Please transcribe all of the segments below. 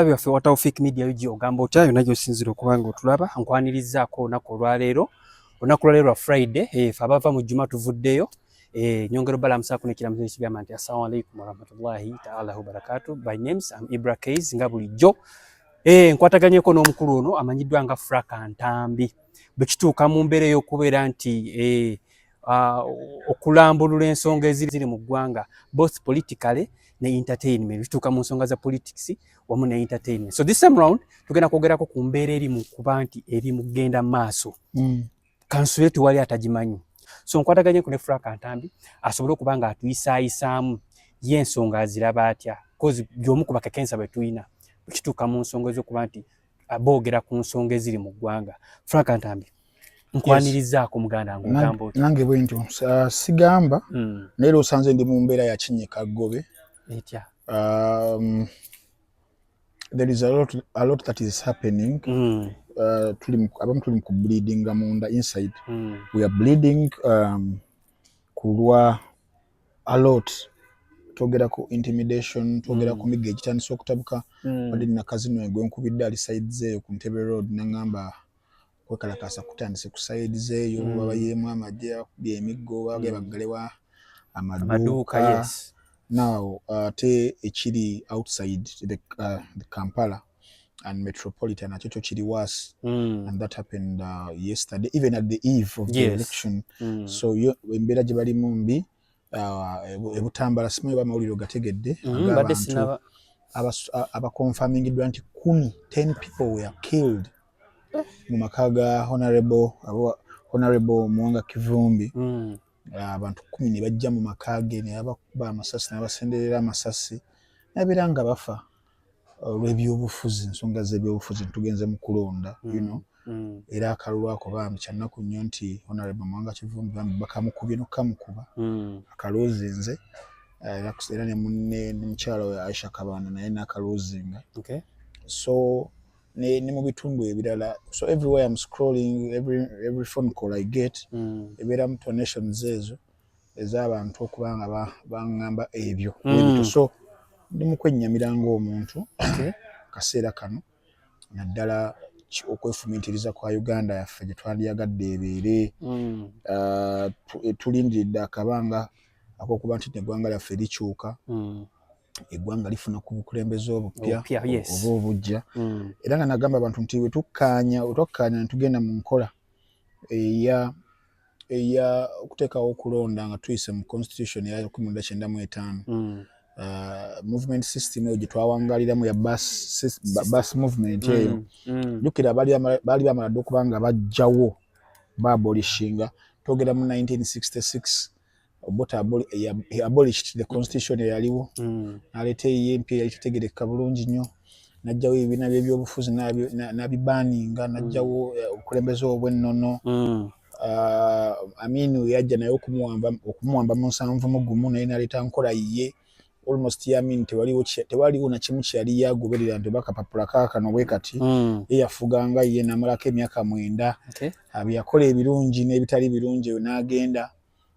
Abe waffe wa Tawfik Media yuji ogamba otya yona gyosinzira okuba nga otulaba nkwanirizaako olunaku olwaleero olunaku lwaleero lwa Friday eh, fe abava mu juma tuvuddeyo eh, nyongera obalamusaako nekiramuzo ekigamba nti assalamu alaikum warahmatullahi taala wabarakatu by names am Ibra Kays nga bulijjo eh, nkwataganyeko n'omukulu ono amanyiddwa nga Fraka Ntambi bwe kituuka mu mbeera ey'okubeera nti uh, okulambulula ensonga eziri mu ggwanga both politically ne entertainment bituuka mu nsonga za politics wamu ne entertainment so this time round tugenda kwogerako ku mbeera eri mu kuba nti eri mu kugenda maaso mm. kansule tewali atagimanyi so nkwataganye ku ne frank ntambi asobole okuba nga atuyisaayisaamu ye ensonga aziraba atya bcoz gyomu ku bakakensa bwe tulina kituuka mu nsonga ezokuba nti boogera ku nsonga eziri mu ggwanga frank ntambi nkwanirizaako muganda nga ogamba oti nange bwe ntyo sigamba hmm. naye lwosanze ndi mu mbeera ya kinyika ggobe etya um, there is a lot, a lot that is happening mm. uh, tuli abamu tuli ku bleeding munda inside mm. we are bleeding um, kulwa a lot twogera ku intimidation twogera mm. ku migga egitandise okutabuka mm. wadde nina kazino egwe nkubidde ali side zeeyo ku ntebe road nangamba kwekalakaasa kutandise ku side zeeyo mm. babayeemu amagye akubye emiggo bage baggalewa amaduuka now uh, ate ekiri outside the, uh, the kampala and metropolitan nakyo kyo kiri was mm. and that happened uh, yesterday even at the eve of yes. the election mm. so embeera gye balimu mbi uh, ebutambala simu eba amawulire ogategedde mm, agaabantu abakonfamingiddwa nti kumi ten people were killed eh. mu maka ga honorable honorable muwanga kivumbi mm. abantu uh, kumi ne bajja mu maka ge ne bakuba amasasi nabasenderera amasasi nabeera nga bafa olw'ebyobufuzi ensonga z'ebyobufuzi tugenze mu kulonda mm. you know mm. era akalulu ako bambi kyannaku nnyo nti honorable mwanga kivumbi bambi bakamukubye nokukamukuba mm. akaloozinze eh, era ne munne ne mukyala we aisha kabanda naye nakaloozinga okay. so ne, ne mu bitundu ebirala so everywhere am scrolling every, every phone call i get mm. ebeera mu donations ezo ez'abantu okuba nga baŋŋamba ebyo mm. so ndi mu kwennyamira ng'omuntu kaseera kano naddala okwefumiitiriza kwa uganda yaffe gye twandyagadde ebeere mm. ah, eh, tulindiridde akabanga akokuba nti neggwanga lyaffe likyuka mm. eggwanga lifuna ku bukulembeze obupya oba obujja era nga nagamba abantu nti wetukkaanya wetwakkaanya netugenda mu nkola eya eya okuteekawo okulonda nga tuyise mu constitution ya lukumi lwenda kyenda mu etaano mm. uh, movement system eyo gye twawangaliramu ya bus movement mm, eyo mm. jjukira baali bamala dda okuba nga bajjawo baabolishinga twogera mu 1966 obuta he abolished the constitution eyaliwo mm. naleeta eyiye empya eyali tetegerekeka bulungi nnyo najjawo ebibiina byebyobufuzi nabibaninga najjawo mm. eh, obukulembeze obwennono mm. ah, amini yajja naye okumuwamba mu nsanvu mugumu naye naleeta nkola yiye almost yamin tewaliwo tewaliwo na kimu kyali yagoberera nti oba kapapula kaakano bwe kati mm. ye yafuganga ye namalako emyaka mwenda okay. abyakola ebirungi n'ebitali birungi eyo n'agenda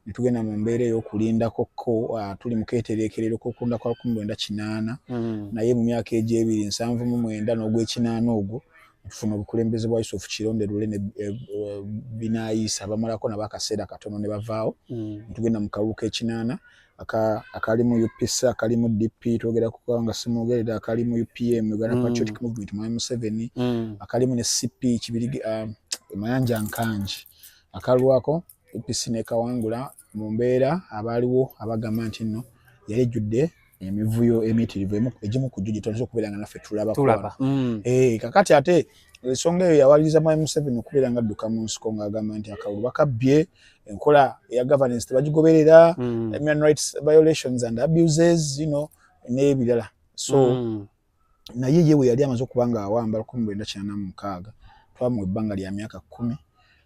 ne tugenda mu mbeera ey'okulindako ko uh, tuli mu keetereekerero k'okulunda kwa lukumi lwenda kinaana mm. naye mu myaka egy'ebiri nsanvu mu mwenda n'ogw'ekinaana ogwo tufuna obukulembeze bwa yusufu kironde lule ne e, e, binaayisa bamalako nabo akaseera katono ne bavaawo mm. ne tugenda mu kalulu k'ekinaana akali mu upc akali mu dp twogera kukuba nga simwogerera akali mu upm uganda mm. patriotic movement mwami museveni mm. akalimu ne cp kibirige uh, mayanja nkangi akalwako UPC nekawangula mu mbeera abaaliwo abagamba nti nno yali ejjudde emivuyo emitirivu egimu ku gyo gyetwatera okubeera nga naffe tulabako mm. eh, kakati ate ensonga eyo yawaliriza mwami museveni okubeera nga adduka mu nsiko ng'agamba nti akalulu bakabbye enkola eya governance tebagigoberera mm. human rights violations and abuses you know n'ebirala so mm. naye ye bwe yali amaze okuba ng'awamba lukumi lwenda kinana mu mukaaga twamuwa ebbanga lya myaka kkumi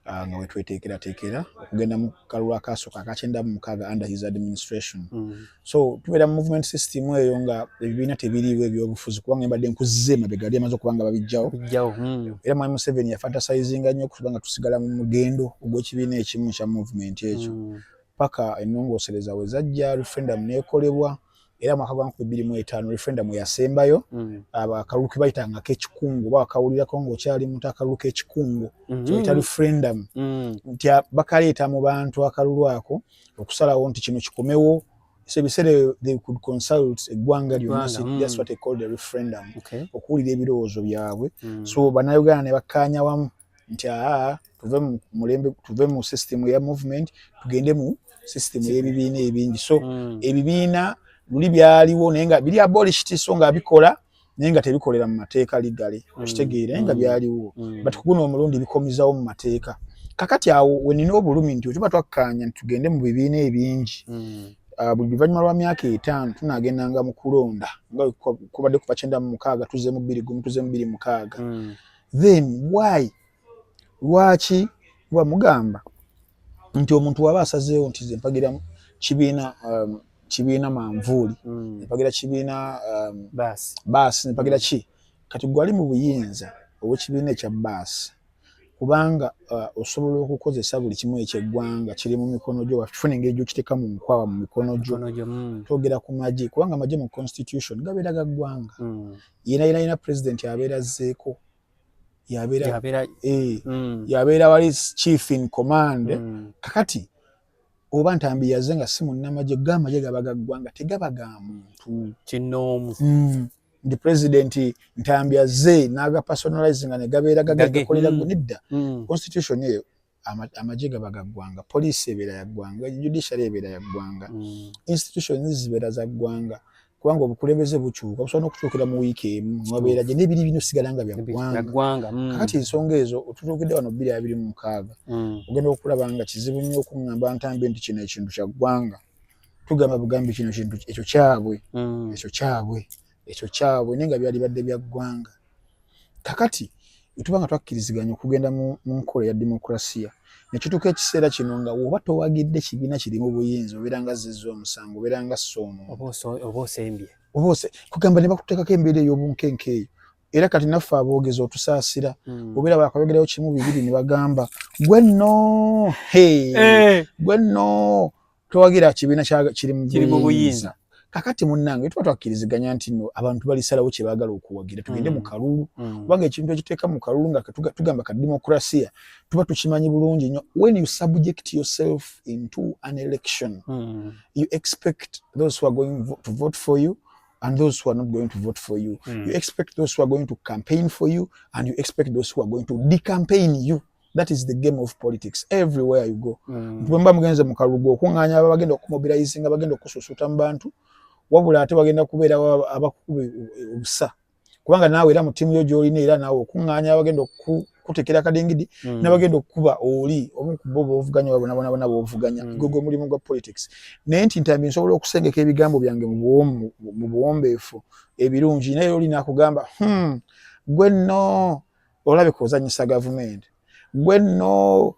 ah, nga wetweteekerateekera okugenda mu kalulu akaasooka akakyenda mu mukaaga under his administration mm. so tubeera mu movement system eyo nga ebibiina tebiriiwo ebyobufuzi kubanga mbadde nkuzze mabega yali amaze okuba nga babijjawo mm. era mwami museveni yafantasayizinga nnyo okuba nga tusigala mu mugendo ogw'ekibiina ekimu kya movement ekyo mm. paka ennongoosereza we zajja referendum neekolebwa mm. era mwaka gwa nkumi bbiri mu etaano referendum yasembayo mm. akalulu ke bayitanga akekikungu oba wakawulirako ng'okyali muntu akalulu k'ekikungu mm-hmm. kyoyita referendum mm. nti bakaleeta mu bantu akalulu ako okusalawo nti kino kikomewo so ebiseera they could consult eggwanga lyonna mm. that's what they call the referendum okuwulira ebirowoozo byabwe so bannayuganda ne bakkaanya wamu nti aa tuve mu mulembe tuve mu system ya movement tugende mu system y'ebibiina ebingi so mm. ebibiina luli byaliwo naye nga biri abolished so nga bikola naye nga tebikolera mu mateeka ligale mm. okitegeera naye nga mm. byaliwo mm. but kuguno omulundi bikomizawo mu mateeka kakati awo wenina obulumi nti otuba twakkaanya nti tugende mu bibiina ebingi mm. ah, buli luvannyuma lwa myaka etaano tunagendanga mu kulonda nga kubadde kuva kyenda mu mukaaga tuze mu bbiri gumu tuze mu bbiri mukaaga mm. then why lwaki kuba mugamba nti omuntu waba asazeewo nti ze mpagira kibiina um, kibiina manvuuli mm. nempagira kibiina um, baasi nempagira ki kati gwali mu buyinza obwekibiina ekya baasi kubanga uh, osobola okukozesa buli kimu ekyeggwanga kiri mu mikono gyo wakifuna engeri gyokiteeka mu nkwawa mu mikono gyo mm. togera ku magye kubanga amagye mu constitution gabeera ga ggwanga mm. yena yena yena president yabeera zzeeko yabeera yabeera eh, mm. wali chief in command mm. kakati oba ntambi yaze nga si munnamagye go amagye gaba gaggwa nga tegaba ga muntu mm, kinoomu mm. ndi president ntambi azze n'agapersonalize nga ne gabeera gagakolera mm. nedda mm. constitution eyo amagye gaba ga ggwanga poliisi ebeera ya ggwanga judiciary ebeera ya ggwanga mm. institutions zibeera za ggwanga kubanga obukulembeze bukyuka busobola n'okukyukira mu wiiki emu mubabeera gye n'ebiri bino sigala nga bya ggwanga mm. kakati ensonga ezo otutuukidde wano bbiri abiri mu mukaaga mm. ogenda okulaba nga kizibu nnyo okuŋŋamba ntambi nti kino ekintu kya ggwanga tugamba bugambi kino kintu ekyo kyabwe ekyo kyabwe ekyo kyabwe naye nga byalibadde bya ggwanga kakati tuba nga twakkiriziganya okugenda mu nkola ya demokulasiya nekituuka ekiseera kino nga woba towagidde kibiina kiri mu buyinza obeera nga zizza omusango obeera nga soomo oba osembye oba ose kugamba ne bakuteekako embeera ey'obunkenke eyo era kati naffe aboogezi otusaasira hmm. obeera bakayogerayo kimu bibiri ne bagamba gwe nno eh. gwe nno towagira kibiina kiri mu buyinza kakati munnange tuba twakkiriziganya nti no abantu balisalawo kye baagala okuwagira tugende mm. mu kalulu mm. kubanga ekintu ekiteeka mu kalulu nga tugamba ka demokrasiya tuba tukimanyi bulungi nnyo when you subject yourself into an election mm. you expect those who are going to vote for you and those who are not going to vote for you mm. you expect those who are going to campaign for you and you expect those who are going to decampaign you that is the game of politics everywhere you go mm. nti bwemba mugenze mu kalulu okuŋŋaanya aba bagenda okumobilizinga bagenda okususuuta mu bantu wabula ate bagenda kubeera abakukuba obusa kubanga naawe era mu ttiimu yo gy'olina era naawe okuŋŋaanya abagenda okukutekera akadingidi mm. nabagenda okukuba oli omu ku bo boovuganya babonabonabona boovuganya mm. gwe gwe mulimu gwa politics naye nti ntambi nsobola okusengeka ebigambo byange mu buwombeefu ebirungi naye oli nakugamba hmm, gwe nno olabika ozanyisa gavumenti gwe nno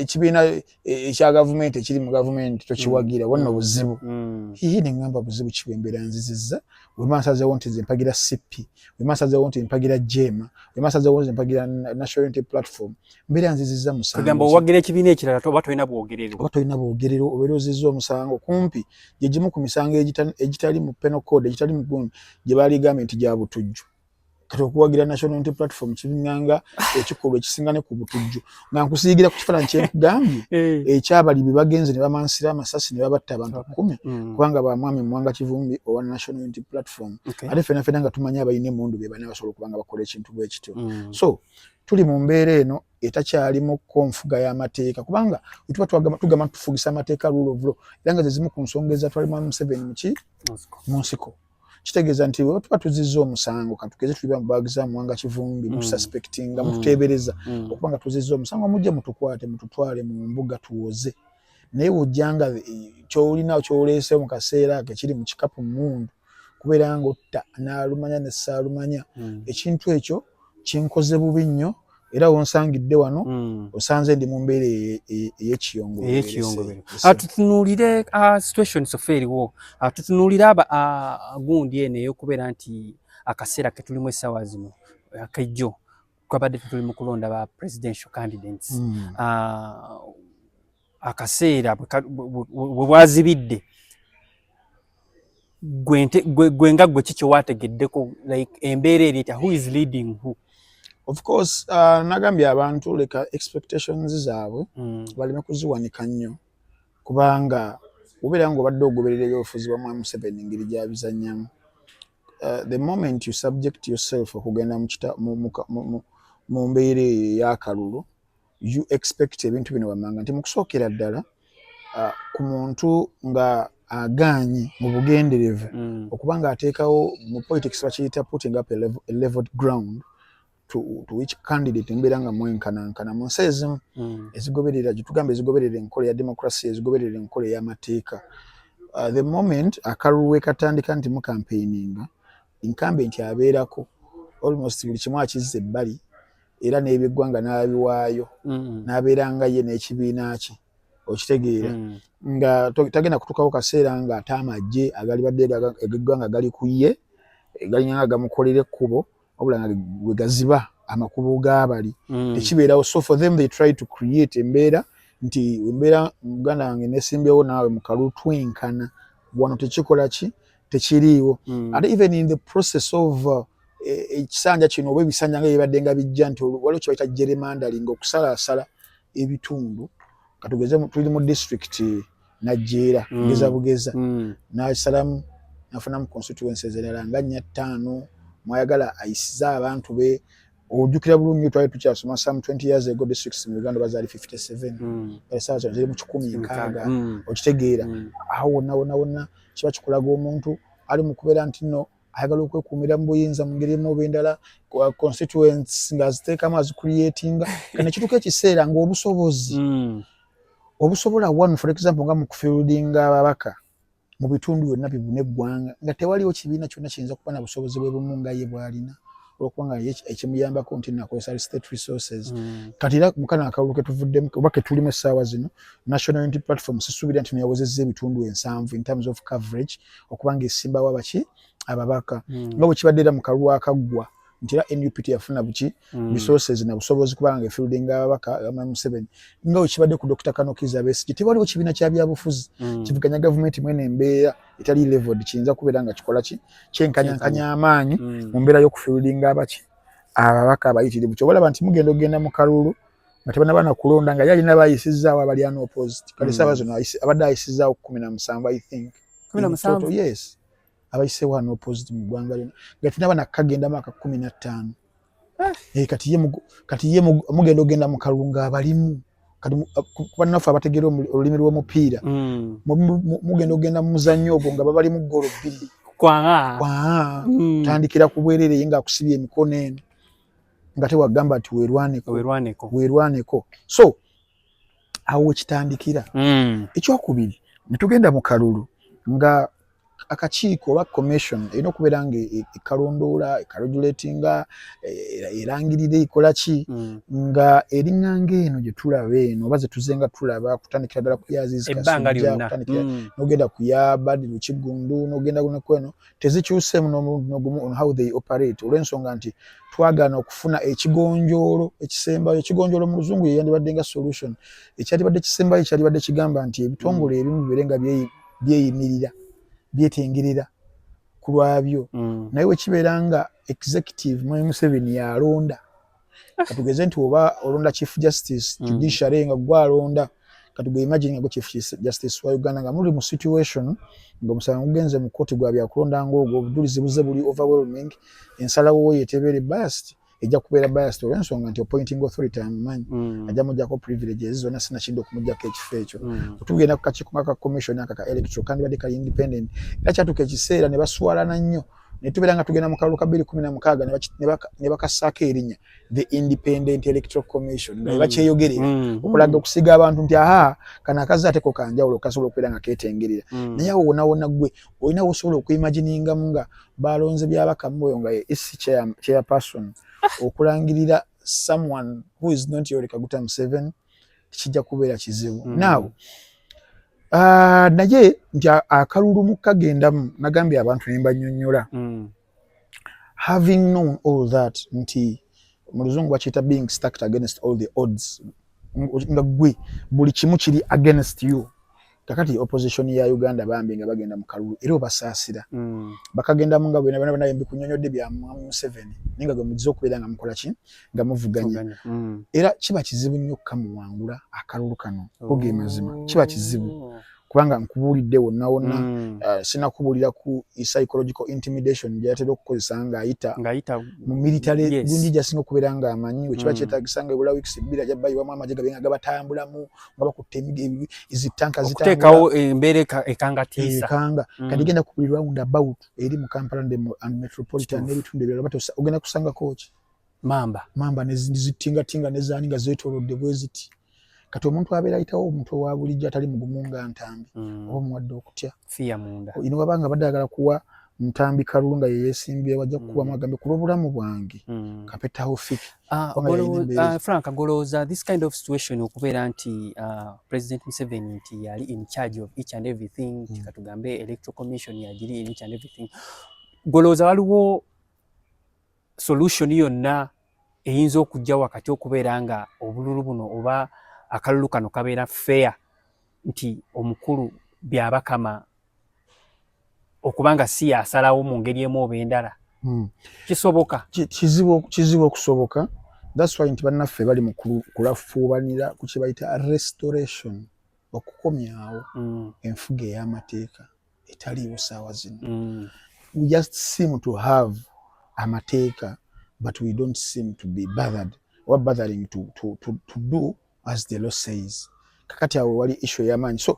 ekibiina e, ekya gavumenti ekiri mu gavumenti tokiwagira wanno mm. buzibu mm. iye neŋamba buzibu kibembera nziziza wemansazewo nti zempagira cp wemansazewo nti mpagira jema wemansazewo nti mpagira national unity platform mbeera nziziza musango owagira ekibiina ekirala oba tolina bwogerero oba tolina bwogerero obeera oziza omusango kumpi gyegimu ku misango egitali mu penal code egitali mu gyebaligambye nti gyabutujju kati okuwagira national unity platform kibinganga ekikolwa ekisinga ne ku butujju nga nkusiyigira ku kifaananyi kyenkugambye eh. ekyabali bye bagenze ne bamansira amasasi ne babatta abantu kumi mm. kubanga ba mwami mwanga kivumbi owa national unity platform ate fena fena nga tumanya abalina emundu be bana basobola okuba nga bakola ekintu bwe kityo mm. so tuli mu mbeera eno etakyalimu ko nfuga y'amateeka kubanga wetuba tugamba tufugisa amateeka rule of law era nga zezimu ku nsonga ezatwalimu museveni muki mu nsiko kitegeeza nti bwe tuba tuzizza omusango katukeze tuliba mu baagi za muwanga kivumbi mm. mutusaspektinga mm. mututeebereza mm. okuba nga tuzizza omusango mujje mutukwate mututwale mu mbuga tuwoze naye wojja nga eh, kyolina kyoleese mu kaseera ke kiri mu kikapu mundu kubeera nga otta n'alumanya ne ssaalumanya ekintu ekyo kinkoze bubi nnyo era wonsangidde wano hmm. osanze ndi mu mbeera eyekiyongoeyekiyongobero ah, tutunuulire ah, situation sofa eriwo ah, tutunuulire aba gundi eno eyokubeera nti akaseera ketulimu essaawa zino akejjo twabadde tetuli mu kulonda ba presidential candidates hmm. akaseera bwe bwazibidde gwe nga gwe kikyo wategeddeko like embeera eri etya who is leading who of course uh, nagambye abantu leka expectations zaabwe mm. baleme kuziwanika nnyo kubanga obeera nga obadde ogoberera ebyobufuzi bwa mwami museveni ngeri gyabizannyamu uh, the moment you subject yourself okugenda mu mbeera eyo eyakalulu you expect ebintu bino wammanga nti mu kusookera ddala uh, ku muntu nga agaanye mu bugenderevu mm. okuba nga ateekawo mu politics bakiyita putting up a, level, a leveled ground to, to which candidate embeera nga mwenkanankana mu nsi ezimu mm. ezigoberera gyetugamba ezigoberera enkola ya democracy ezigoberera enkola ey'amateeka uh, the moment akalulu wekatandika nti mukampeininga incumbent abeerako almost buli kimu akizza ebbali era n'ebyeggwanga n'abiwaayo mm. n'abeera nga ye n'ekibiina kye okitegeera mm. nga tagenda kutuukawo kaseera nga ate amagye agalibadde egeggwanga gali ku ye galinga nga gamukolera ekkubo wabula nga we gaziba amakubo gaabali mm. tekibeerawo so for them they try to create embeera nti embeera muganda wange nesimbyewo naawe mukalu twenkana wano tekikola ki tekiriiwo mm. ate even in the process of uh, e, ekisanja kino oba ebisanja nga byebadde nga bijja nti waliwo kyebayita geremandering okusalaasala ebitundu katugeze tuli mu district najeera mm. bugeza bugeza mm. nasalamu nafunamu constituency zerala nga nya ttaano mwayagala ayisize abantu be ojukira bulungi nyo twali tukyasoma some 20 years ago districts mu uganda bazaali 57 mm. esaa zino ziri mu kikumi nkaaga mm. okitegeera mm. awo wonna wonna wonna kiba kikulaga omuntu ali mu kubeera nti nno ayagala okwekuumira mu buyinza mu ngeri emu oba endala uh, constituents ng'aziteekamu azicreatinga kane kituuka ekiseera ng'obusobozi mm. obusobola one for example nga mu kufieldinga ababaka mu bitundu byonna bibuna eggwanga nga tewaliwo kibiina kyonna kiyinza kuba na busobozi bwe bumu nga ye bwalina olwokubanga ekimuyambako nti nakozesa state resources hmm. kati era mukana akalulu ketuvuddemu oba ketulimu essaawa zino national unity platform sisuubira nti neyawozezza ebitundu ensanvu in terms of coverage okubanga esimbawo abaki ababaka hmm. nga bwekibadde era mu kalulu akaggwa nti era nup teyafuna buki mm. resources na busobozi kubanga nga efieldinga ababaka ama museveni nga wekibadde ku dokita kanokiza besigye tewaliwo kibiina kya byabufuzi mm. kivuganya gavumenti mwene embeera etali leveled kiyinza kubeera nga kikola ki kyenkanyankanya amaanyi mm. mu mbeera y'okufieldinga abaki ababaka abayitirivu kyobalaba nti mugenda okugenda mu kalulu nga tebanabana kulonda nga yalina bayisizaawo abali ano opposite kale mm. saabazono abadde ayisizaawo kumi na musanvu i think kumi na musanvu yes abayise wano opposite mu ggwanga lino nga tunaba nakagenda maka kumi na ttaano eh. eh, kati ye kati ye mugenda ogenda mu kalunga abalimu kati kubannaffe abategeera olulimi lw'omupiira mm. mugenda ogenda mu muzannyo ogwo nga babali mu ggoolo bbiri kwaa mm. tandikira ku bwerere ye ngaakusibye emikono eno nga tewagamba nti werwaneko werwaneko so awo wekitandikira mm. ekyokubiri netugenda mu kalulu nga akakiiko oba commission erina okubeera nga e, e, ekalondoola ekalojulatinga e, erangirira ekola ki hmm. nga eringanga eno gye tulaba eno oba zetuze nga tulaba kutandikira ddala kuyaziizikatandikira hmm. nogenda kuyabadi lukiggundu nogenda nekweno tezikyuseemu n'omuntu nogumu on how they operate olw'ensonga nti twagana okufuna ekigonjoolo ekisembayo ekigonjoolo mu luzungu yeyandibadde nga solution ekyalibadde kisembayo kyalibadde kigamba nti ebitongole hmm. ebimu bibeere nga byeyimu byeyimirira byetengerera ku lwabyo mm. naye wekibeera nga executive mwami museveni yalonda katugeze nti oba olonda chief justice mm. judiciary nga gwe alonda katuge imagine nga gwe chief justice wa uganda nga muli mu situation nga omusango gugenze mu kkooti gwa byakulonda ngaogwo obujulizi buze buli overwhelming ensalawo wo yetebeere bast mm. ejja kubeera biased olwensonga nti appointing authority amumanyi mm. ajja mujjako privilege ezi zonna sinakidde okumujjako ekifo ekyo mm. otugenda ku kakiiko nga ka commission aka ka electro kandibadde kali independent era kyatuuka ekiseera ne baswalana nnyo ne tubeera nga tugenda mu kalulu ka bbiri kumi na mukaaga ne bakassaako erinnya the independent electoral commission nga mm. bakyeyogerera mm. okulaga okusiga abantu nti aha kana akazi ate ko kanjawulo kasobola okubeera nga ketengerera mm. naye awo wonawona gwe olina wosobola okuimaginingamu nga Baalonze Byabakama oyo nga ye EC chairperson ah. okulangirira someone who is not Yoweri Kaguta Museveni kijja kubeera kizibu. Mm. Now uh, naye nti akalulu mu kagendamu nagambye abantu ne mbanyonyola mm. having known all that nti mu luzungu bakiyita being stacked against all the odds nga gwe buli kimu kiri against you kakati opposition ya Uganda bambi nga bagenda mu kalulu era obasaasira mm. bakagenda mu nga bwena bana yembi kunyonyodde bya mwamu Museveni ninga gwe muzizo kubera nga mukola ki nga muvuganya mm. era kiba kizibu nnyo kamuwangula akalulu kano oh. oge mazima kiba kizibu kubanga nkubuulidde wonna wonna mm. uh, sina kubuulira ku psychological intimidation gyeyatera okukozesa ng'ayita mu military yes. gundi gyasinga okubeera ng'amanyi wekiba mm. kyetagisa nga ebula wiikisi bbiri ajja bayiwamu amagye gabe nga gabatambulamu nga bakutte zitanka zitekawo embeera ekangatiisa ekanga mm. kati genda ku buli round about eri mu kampala nde mu and metropolitan n'ebitundu ebirala bati ogenda kusangako ki mamba mamba nezitingatinga nezaani nga zeetoolodde bwe ziti kati omuntu abeera ayitawo omuntu owa bulijjo atali mugumu nga ntambi mm. oba omuwadde okutya fiya munda ino wabanga abadde ayagala kuwa ntambi kalulu nga yeyesimbyewo ajja kukubamu mm. agambe ku lw'obulamu bwange kapetawo fiki Ah, ah, frank agolowooza this kind of situation okubeera nti ah, president museveni nti yali in charge of each and everything hmm. kikatugambe electoral commission yagiri in each and everything golowooza waliwo solution yonna eyinza okujja wakati okubeera nga obululu buno oba akalulu kano kabeera fair nti omukulu byabakama okuba nga si yasalawo mu ngeri emu oba endala hmm. kisoboka kizibu okusoboka thats why nti bannaffe bali mu kulafuubanira ku kye bayita restoration okukomyawo hmm. enfuga ey'amateeka etaliiwo saawa zino hmm. we just seem to have amateeka but we don't seem to be bothered oba bothering to, to, to, to do as the law says kakati awo wali issue yamanyi so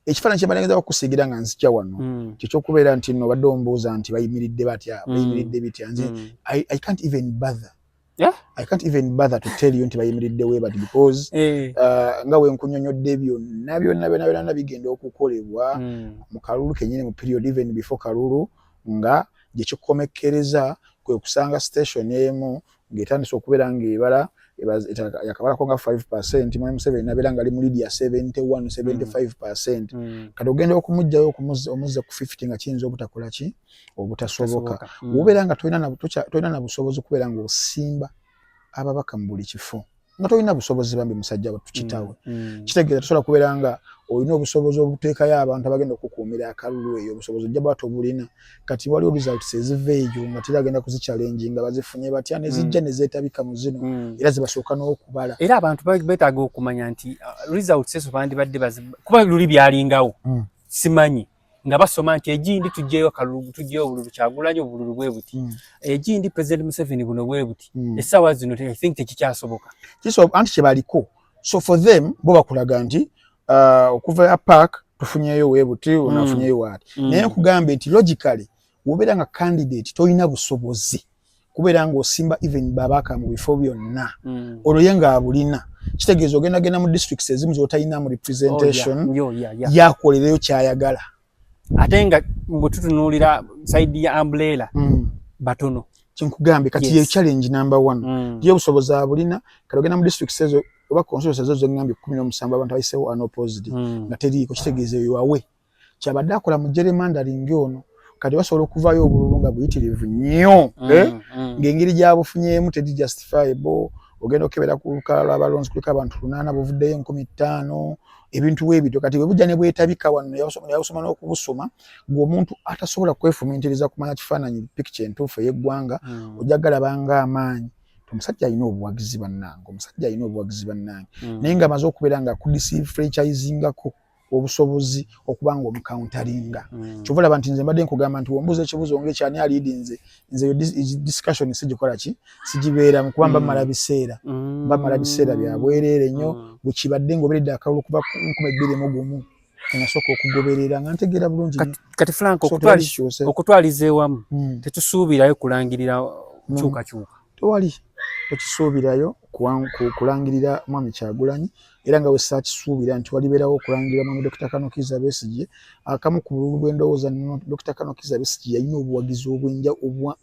ekifaananyi kyemalengeza okusiigira nga nzija wano mm. kyekyokubeera nti no badde ombuuza nti bayimiridde batya mm. bayimiridde bitya nze mm. I, i can't even bother Yeah? I can't even bother to tell you nti bayimiridde webati because hey. Eh. uh, nga wenkunyonyodde byonna byonna byonna byonna bigenda okukolebwa mm. mu kalulu kenyini mu period even before kalulu nga gyekikomekkereza kwe kusanga station emu ng'etandise okubeera ng'ebala yakabalako nga 5 percent mwami museveni nabeera nga ali mu lidia 71 75 percent mm. mm. kati ogenda okumugjayo omuzze ku 50 nga kiyinza obutakola ki obutasoboka mm. wobeera nga tolina na busobozi kubeera nga osimba ababaka mu buli kifo nga tolina busobozi bambi musajja watu kitawe mm, mm. kitegeeza tosobola kubeera nga olina obusobozi obuteekayo abantu abagenda okukuumira akalulu eyo obusobozi ojja bwati obulina kati waliwo results eziva eyo nga tera agenda kuzicalengi nga bazifunye batya nezijja mm. nezeetabika mu zino mm. era zibasooka n'okubala era abantu betaaga okumanya nti uh, results ezo bandibadde kuba luli byalingawo mm. simanyi nga basoma nti egindi tujjeyo akalulu tujjeyo obululu kyagulanyi obululu bwe buti mm. egindi president museveni buno bwe buti mm. essaawa zino i think tekikyasoboka kiso anti kyebaliko so for them bo bakulaga nti uh, okuva ya park tufunyeyo we buti mm. unafunyeyo wati mm. naye nkugambye nti logically wobeera nga candidate tolina busobozi kubeera ng'osimba even babaka mu bifo byonna mm. olwo ye ng'abulina kitegeeza ogenda genda mu districts ezimu z'otalinamu representation oh, yakolereyo kyayagala ate nga mbu tutunuulira saidi ya ambulera mm. batono kyenkugambye kati yes. ye challenge number one mm. ye obusobozi abulina kati ogenda mu districts ezo oba consults ezo zengambye kumi n'omusanvu abantu abayisewo anopposed mm. nga teriiko kitegeeza eyo awe kyabadde akola mu jeremandaringi ono kati basobola okuvayo obululu nga buyitirivu nnyo mm, eh? mm. ng'engeri gyabufunyemu teri justifiable ogenda okukebera ku lukala lwabalonzi kuliko abantu lunaana buvuddeyo enkumi ttaano ebintu webityo kati bwebujja ne bwetabika wano neyabusoma n'okubusoma gwe omuntu atasobola kwefumiitiriza kumanya kifaananyi pikica entuufu ey'eggwanga mm. ojja galaba ng'amaanyi omusajja alina obuwagizi bannange omusajja alina obuwagizi bannange mm. naye nga amaze okubeera nga akudisiifrechizingako obusobozi okuba nga omukauntaringa mm. kyova olaba nti nze mbadde nkugamba nti wombuuza ekibuzo nga ekyani aliidi nze nze eyo discussion sigikola ki sigibeeramu kuba mba mm. mala biseera mm. mba mala biseera bya bwereere nnyo mm. bwekibadde ngaoberedde akalulu okuva nkuma ebbiri mu gumu enasooka okugoberera nga ntegeera bulungi kati frank okutwaliza ewamu mm. tetusuubirayo kulangirira mm. kyukakyuka tewali tokisuubirayo kulangirira mwami kyagulanyi era nga wesakisuubira nti walibeerawo okulangirira mwami dokita kanokiza besigye akamu ku bululu bwendowooza nno dokita kanokiza besigye yalina obuwagizi obwenja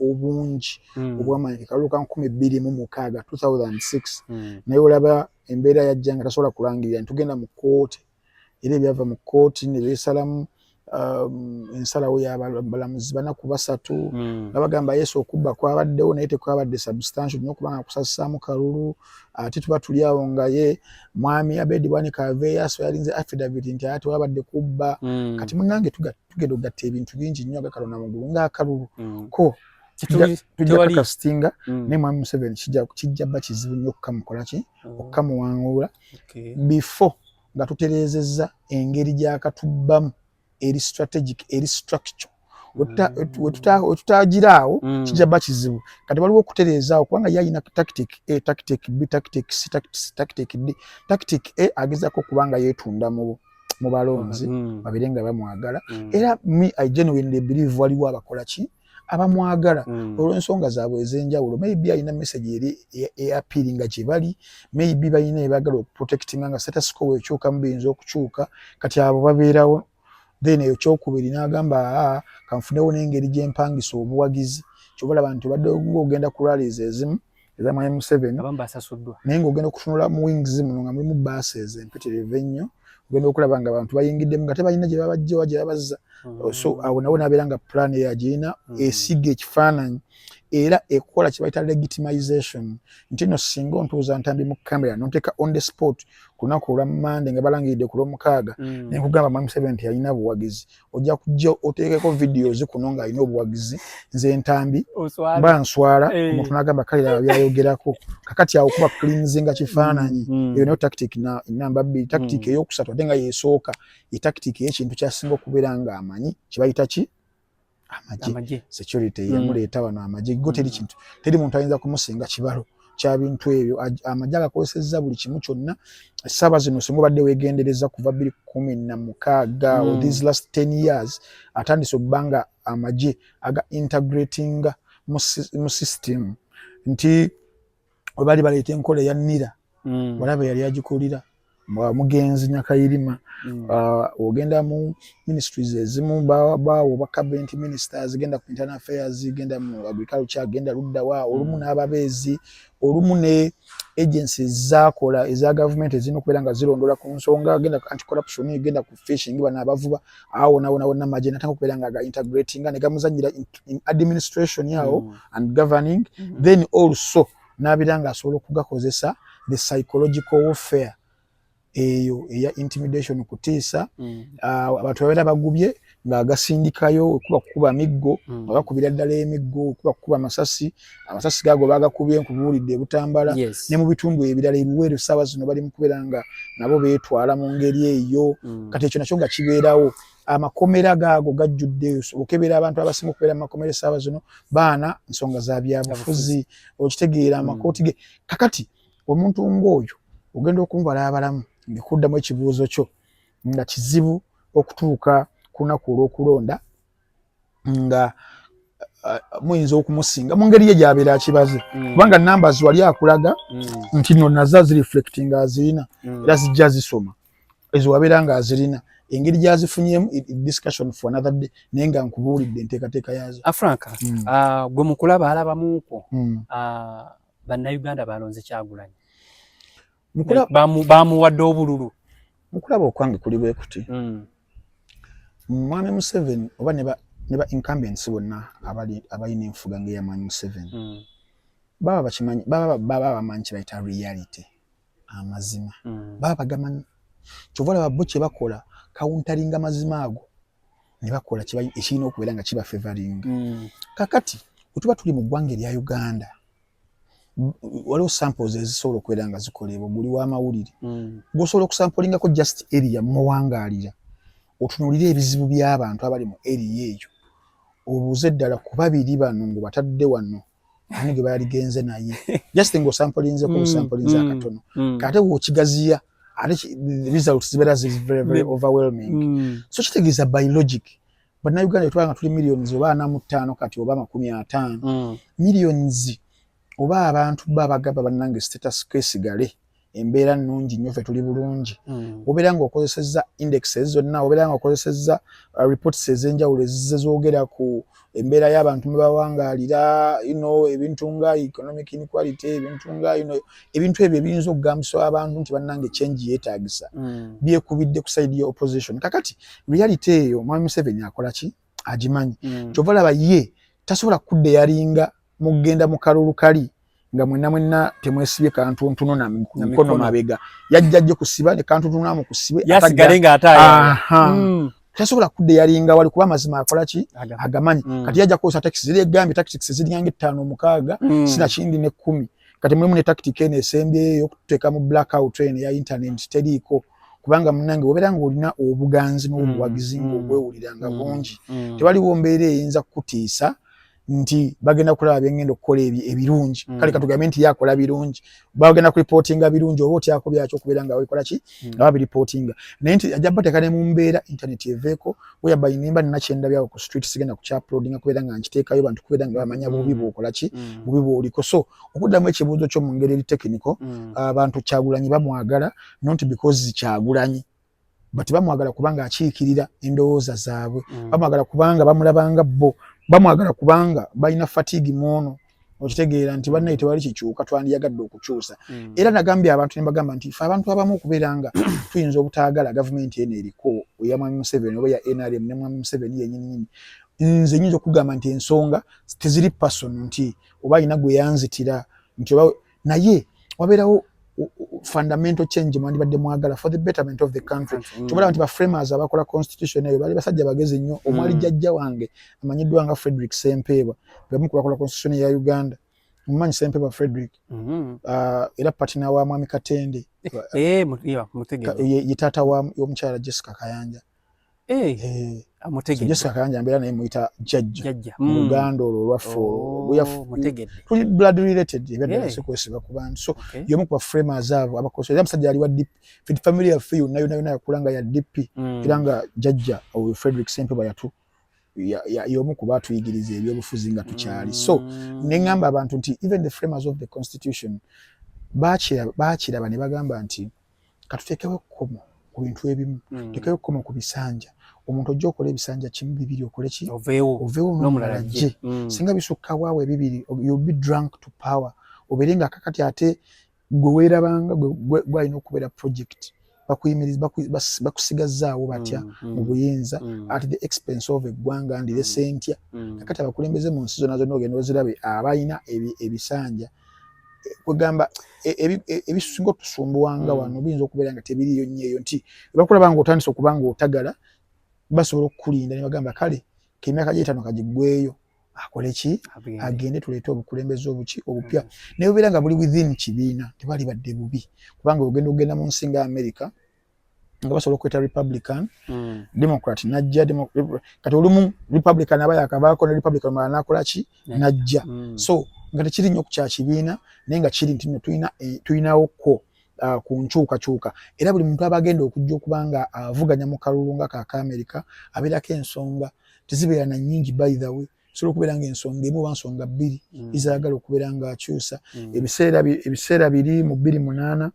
obungi hmm. obwamaanyi kalulu ka nkumi bbiri mu mukaaga 2006 hmm. naye olaba embeera yajja nga tasobola kulangirira nti tugenda mu kkooti era ebyava mu kkooti ne beesalamu um, ensalawo yabalamuzi bana ku basatu hmm. nga bagamba yesu okubba kwabaddewo naye tekwabadde substantial nyo okubanga kusasisaamu kalulu ate tuba tuli awo nga ye mwami abedi bwanika aveeyaso yalinze affidavit nti ate wabadde kubba hmm. kati munange tugenda okugatta ebintu bingi nnyo agakalona mugulu ngaakalulu hmm. ko tujakakasitinga mm. naye mwami museveni kijja bba kizibu nnyo okukamukolaki mm. okukamuwangula okay. before nga tutereezezza engeri gyakatubbamu eri strategic eri structure wetutagira awo mm. kijaba kizibu kati waliwo okutereezaawo kubanga ye alina tactic a tactic b tactic c tactic d tactic a agezako okuba nga yeetunda mubo mu balonzi mm. babeere nga bamwagala mm. era me i genuinely believe waliwo abakola ki abamwagala mm. olwensonga zaabwe ezenjawulo maybe alina message eri eapiri nga gyebali maybe balina ebagala okuprotectinga nga setasiko wekyuka mubiyinza okukyuka kati abo babeerawo then eyo kyokubiri nagamba aa kanfunewo nengeri gyempangisa obuwagizi kyobalaba nti obadde ogenda ku rallies ezimu eza mwami Museveni abamu basasuddwa naye ng'ogenda okutunula mu wings muno nga mulimu bases empitirivu ennyo ogenda okulaba nga abantu bayingiddemu nga tebalina gye babajja oba gye babazza mm. so awo nawo nabeera nga plan eyo agirina mm. esiga ekifaananyi era ekola kye bayita legitimization nti no singa ontuuza ntambi mu camera nonteeka on the spot ku lunaku olwa mande nga balangiridde ku lwomukaaga mm. nenkugamba mwami Museveni nti yalina buwagizi ojja kujja oteekeko videos kuno ng'alina obuwagizi nze entambi mba nswala eh. omuntu n'agamba kale laba byayogerako kakati awo kuba kulinzinga kifaananyi mm, mm. eyo nayo tactic namba bbiri tactic mm. eyokusatu ate nga yesooka ye tactic ey'ekintu kyasinga okubeera ng'amanyi kye bayita ki amagye security yemuleeta wano amagye go teri kintu teri muntu ayinza kumusinga kibalo kyabintu ebyo amagye agakozesezza buli kimu kyonna essaawa zino singa obadde wegendereza kuva biri kumi na mukaaga mm. these last ten years atandise okuba nga amagye aga integratinga mu system nti webali baleeta enkola eya nira mm. walaba yali agikulira mugenzi nyakayirima mm. ah, ogenda mu ministries ezimu baawo bacabent ministers genda ku internal affairs genda mu agriculture genda luddawa mm. olumu n'ababeezi olumu ne agency zakola eza gavumenti ezina okubeera nga zirondola ku nsonga genda anti corruption genda ku fishing bana abavuba awo nawona wonna maje natanga okubeera nga ga integrating nga ne gamuzanyira in administration yawo mm. and governing mm -hmm. then also n'abeera ng'asobola okugakozesa the psychological warfare eyo eya intimidation kutiisa mm. ah, abantu babeera bagubye ng'agasindikayo okuba kukuba miggo mm. nga bakubira ddala emiggo okuba kukuba amasasi amasasi gaago bagakubye nkubuulidde ebutambala ne mu bitundu ebirala ebiweero saawa zino bali mu kubeera nga nabo beetwala mu ngeri eyo mm. kati ekyo nakyo nga kibeerawo amakomera gaago gajjudde okebera abantu abasinga okubeera mu makomera esaaba zino baana nsonga za byabufuzi okitegeera hmm. amakooti ge kakati omuntu ng'oyo ogenda okumubala abalamu ngekuddamu ekibuuzo kyo nga kizibu okutuuka ku lunaku olw'okulonda nga uh, muyinza okumusinga mu ngeri ye gyabeera akibaze hmm. kubanga namba ziwali akulaga hmm. nti no naza zireflectinga azirina era zijja zisoma ezo wabeera nga azirina engeri gyazifunyemu discussion for another day naye nga nkubuulidde enteekateeka yaazo afranka ah, mm. ah, gwe mukulaba alabamuuko mm. ah, bannayuganda balonze kyagulanyi bamuwadde obululu mukulaba okwange kuli bwe kuti mm. mwami museveni oba ne ba incumbents bonna abalina enfuga ngaeya mwami museveni mm. baba bakimanyi baba bamanyi kyebayita reality amazima mm. baba bagamanyi kyova olaba bo kyebakola kawuntalinga mazima ago ne bakola ekirina okubeera nga kiba fevaringa mm. kakati wetuba tuli mu ggwanga erya uganda waliwo samples ezisobola okubeera nga zikoleebwa guli w'amawulire mm. gwosobola okusampolingako just area mumawangaalira otunulire ebizibu by'abantu abali mu area eyo obuuze ddala ku babiri bano ng'obatadde wano ani gwe baaligenze naye just nga osampulinzeko mm, osampulinze mm, akatono mm. kate wokigaziya ate results zibeera ziri very very overwhelming so kitegeeza by logic bannayuganda etwala nga tuli millions oba ana mu ttaano kati oba amakumi ataano millions oba abantu ba bagaba bannange status kwesigale embeera nnungi nnyo ffe tuli bulungi hmm. obeera nga okozesezza indexes zonna obeera nga okozesezza uh, reports ez'enjawulo ezize zoogera ku embeera y'abantu mwe bawangaalira ino ebintu nga economic inequality ebintu nga ino ebintu ebyo ebiyinza okugambisa abantu nti bannange change yeetaagisa hmm. byekubidde ku saidi ya opposition kakati reality eyo mwami museveni akola ki agimanyi hmm. kyova laba ye tasobola kudde yalinga mugenda mu kalulu kali nga mwenna mwenna temwesibye kantuntuno na mikono mabega yajja ajje kusiba ne kantuntuno amu kusibe yasigale nga ataya hmm. tasobola kudde yalinga wali kuba mazima akola ki agamanyi hmm. kati yajja kosa taxi zile gambi taxi zili yange tano mukaga hmm. sina chindi ne kumi kati mulimu ne tactic ene esembye yo kuteka mu blackout train ya internet teliko kubanga munange wobera ngo olina obuganzi n'obuwagizi ngo gwewulira nga bungi tewali wombeere eyinza kutiisa nti bagenda kulaba byengenda okukola ebirungi mm. kale katugambe nti yakola birungi bagenda kulipotinga birungi oba otyako byakyo okubeera nga bakola ki mm. nga babiripotinga naye nti ajja bateeka ne mu mbeera intaneti eveeko weya bayinimba nina kyendabyawo ku street sigenda kukyapulodinga kubeera nga nkiteekayo bantu kubeera nga bamanya mm. bubi bwokola ki bubi bwoliko so okuddamu ekibuuzo kyo mu ngeri eri tekiniko abantu kyagulanyi bamwagala nonti because kyagulanyi but bamwagala kubanga akiikirira endowooza zaabwe mm. bamwagala kubanga bamulabanga bo bamwagala kubanga balina fatigue mwono okitegeera nti bannaye tewali kikyuka twandiyagadde okukyusa mm. era nagambye abantu nebagamba nti fe abantu abamu okubeera nga tuyinza obutaagala gavumenti eno eriko eya mwami museveni oba ya nrm ne mwami museveni yenyininyini nze nyinza okugamba nti ensonga teziri pasono nti oba alina gweyanzitira nti oba naye wabeerawo fundamental change mwandibadde mwagala for the betterment of the country mm. kyobala nti baframers abakola constitution eyo bali basajja bagezi nnyo mm. omwali jajja wange amanyiddwa nga frederick sempeebwa bebamu kubakola constitution ya uganda mumanyi sempeebwa frederick mm-hmm. uh, era patina wa mwami katende eh, ye taata womukyala jessica kayanja Eh, eh. amutegeddejasakanja mbeera naye muyita jajja mu mm. luganda olwo olwaffe olwotuli oh, blood related ebyaddalasekwesiba eh. ku bantu so yomu kuba framers abo abakosa era musajja ali wa dip fed family yaffe yonna yona yona yakula nga ya dp mm. era nga jajja oyo frederick sempe bayatu yomu kuba atuyigiriza ebyobufuzi nga tukyali so mm. neŋamba abantu nti even the framers of the constitution bakiraba ne bagamba nti katuteekewo ekkomo ku bintu ebimu mm. tekewo ekkomo ku bisanja omuntu ojja okola ebisanja kimu bibiri okole ki oveewo nomulala jje mm. singa bisukka waawo ebibiri you'll be drunk to power obeere nga kakati ate gwe weerabanga gwalina okubeera project bakuyimiriza bakusigazzaawo batya mm, mm, mu buyinza mm. at the expense of eggwanga ndire sentya kakati abakulembeze mu nsi zona zonna ogenda ozirabe abalina ebisanja kwegamba e, e, e, ebisinga otusumbuwa nga wano mm. biyinza okubeera nga tebiriyo nnyo eyo nti ebakulaba nga otandise okuba nga otagala basobola okukulinda ne bagamba kale kemyaka gyetano kagigweyo akole ki agende tuleete obukulembeze obuki obupya mm. naye obeera nga buli within kibiina tebali badde bubi kubanga ogenda okugenda mu nsi nga america nga basobola okukweta republican mm. democrat najja kati olumu republican aba yakavaako ne republican mala nakola ki najja mm. so nga tekiri nnyo ku kyakibiina naye nga kiri nti no tulinawo eh, ko uh, ku nkyukakyuka era buli muntu aba agenda okujja okuba nga avuganya mu kalulu nga kaka amerika abeerako ensonga tezibeera na nyingi by the way sobola okubeera nga ensonga emu oba nsonga bbiri mm. ezayagala okubeera nga akyusa mm. ebiseera biri mu bbiri munaana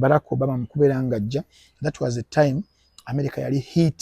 barack obama mukubeera nga ajja that was a time america yali heat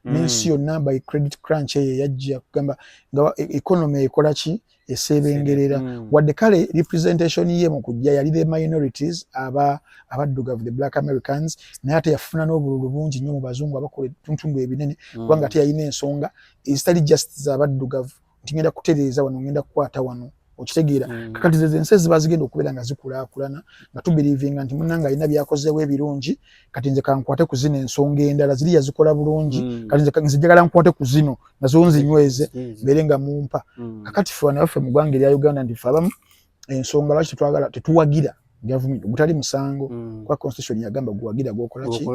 mm. n'ensi yonna by credit crunch eyo yajja kugamba nga e, economy ekola ki eseebengerera wadde kale representation ye mu kujja yali the minorities aba abaddugavu the black americans naye ate yafuna n'obululu bungi nnyo mu bazungu abakola etuntundu ebinene kubanga ate yalina ensonga ezitali just zabaddugavu nti ngenda kutereeza wano ngenda kukwata wano okitegeera mm. kakati zezo ensi eziba zigenda okubeera nga zikulaakulana nga tubirivinga nti munange alina byakozeewo ebirungi kati nze kankwate ku zino ensonga endala ziri yazikola bulungi mm. kati nze njagala nkwate ku zino nazo nzinyweze mm. mbeere nga mumpa mm. kakati fe wana baffe mu ggwanga erya uganda nti fe abamu ensonga lwaki tetwagala tetuwagira government gutali musango mm. kwa constitution yagamba guwagira gwokola ki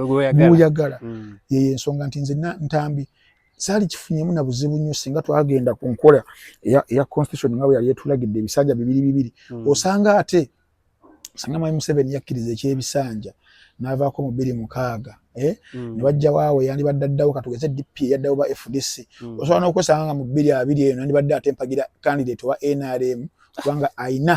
guyagala mm. yeye ensonga nti nze ntambi saali kifunyemu na buzibu nnyo singa twagenda ku nkola eya constitution nga bwe yali etulagidde ebisanja bibiri bibiri hmm. osanga ate osanga mwami museveni yakkiriza ekyebisanja n'avaako mu bbiri mukaaga eh? hmm. ne bajja waawe yandibadde addawo katugeze dp eyaddawo ba fdc hmm. osobola n'okwesanga nga mu bbiri abiri eno yandibadde ate mpagira candidate owa nrm kubanga ayina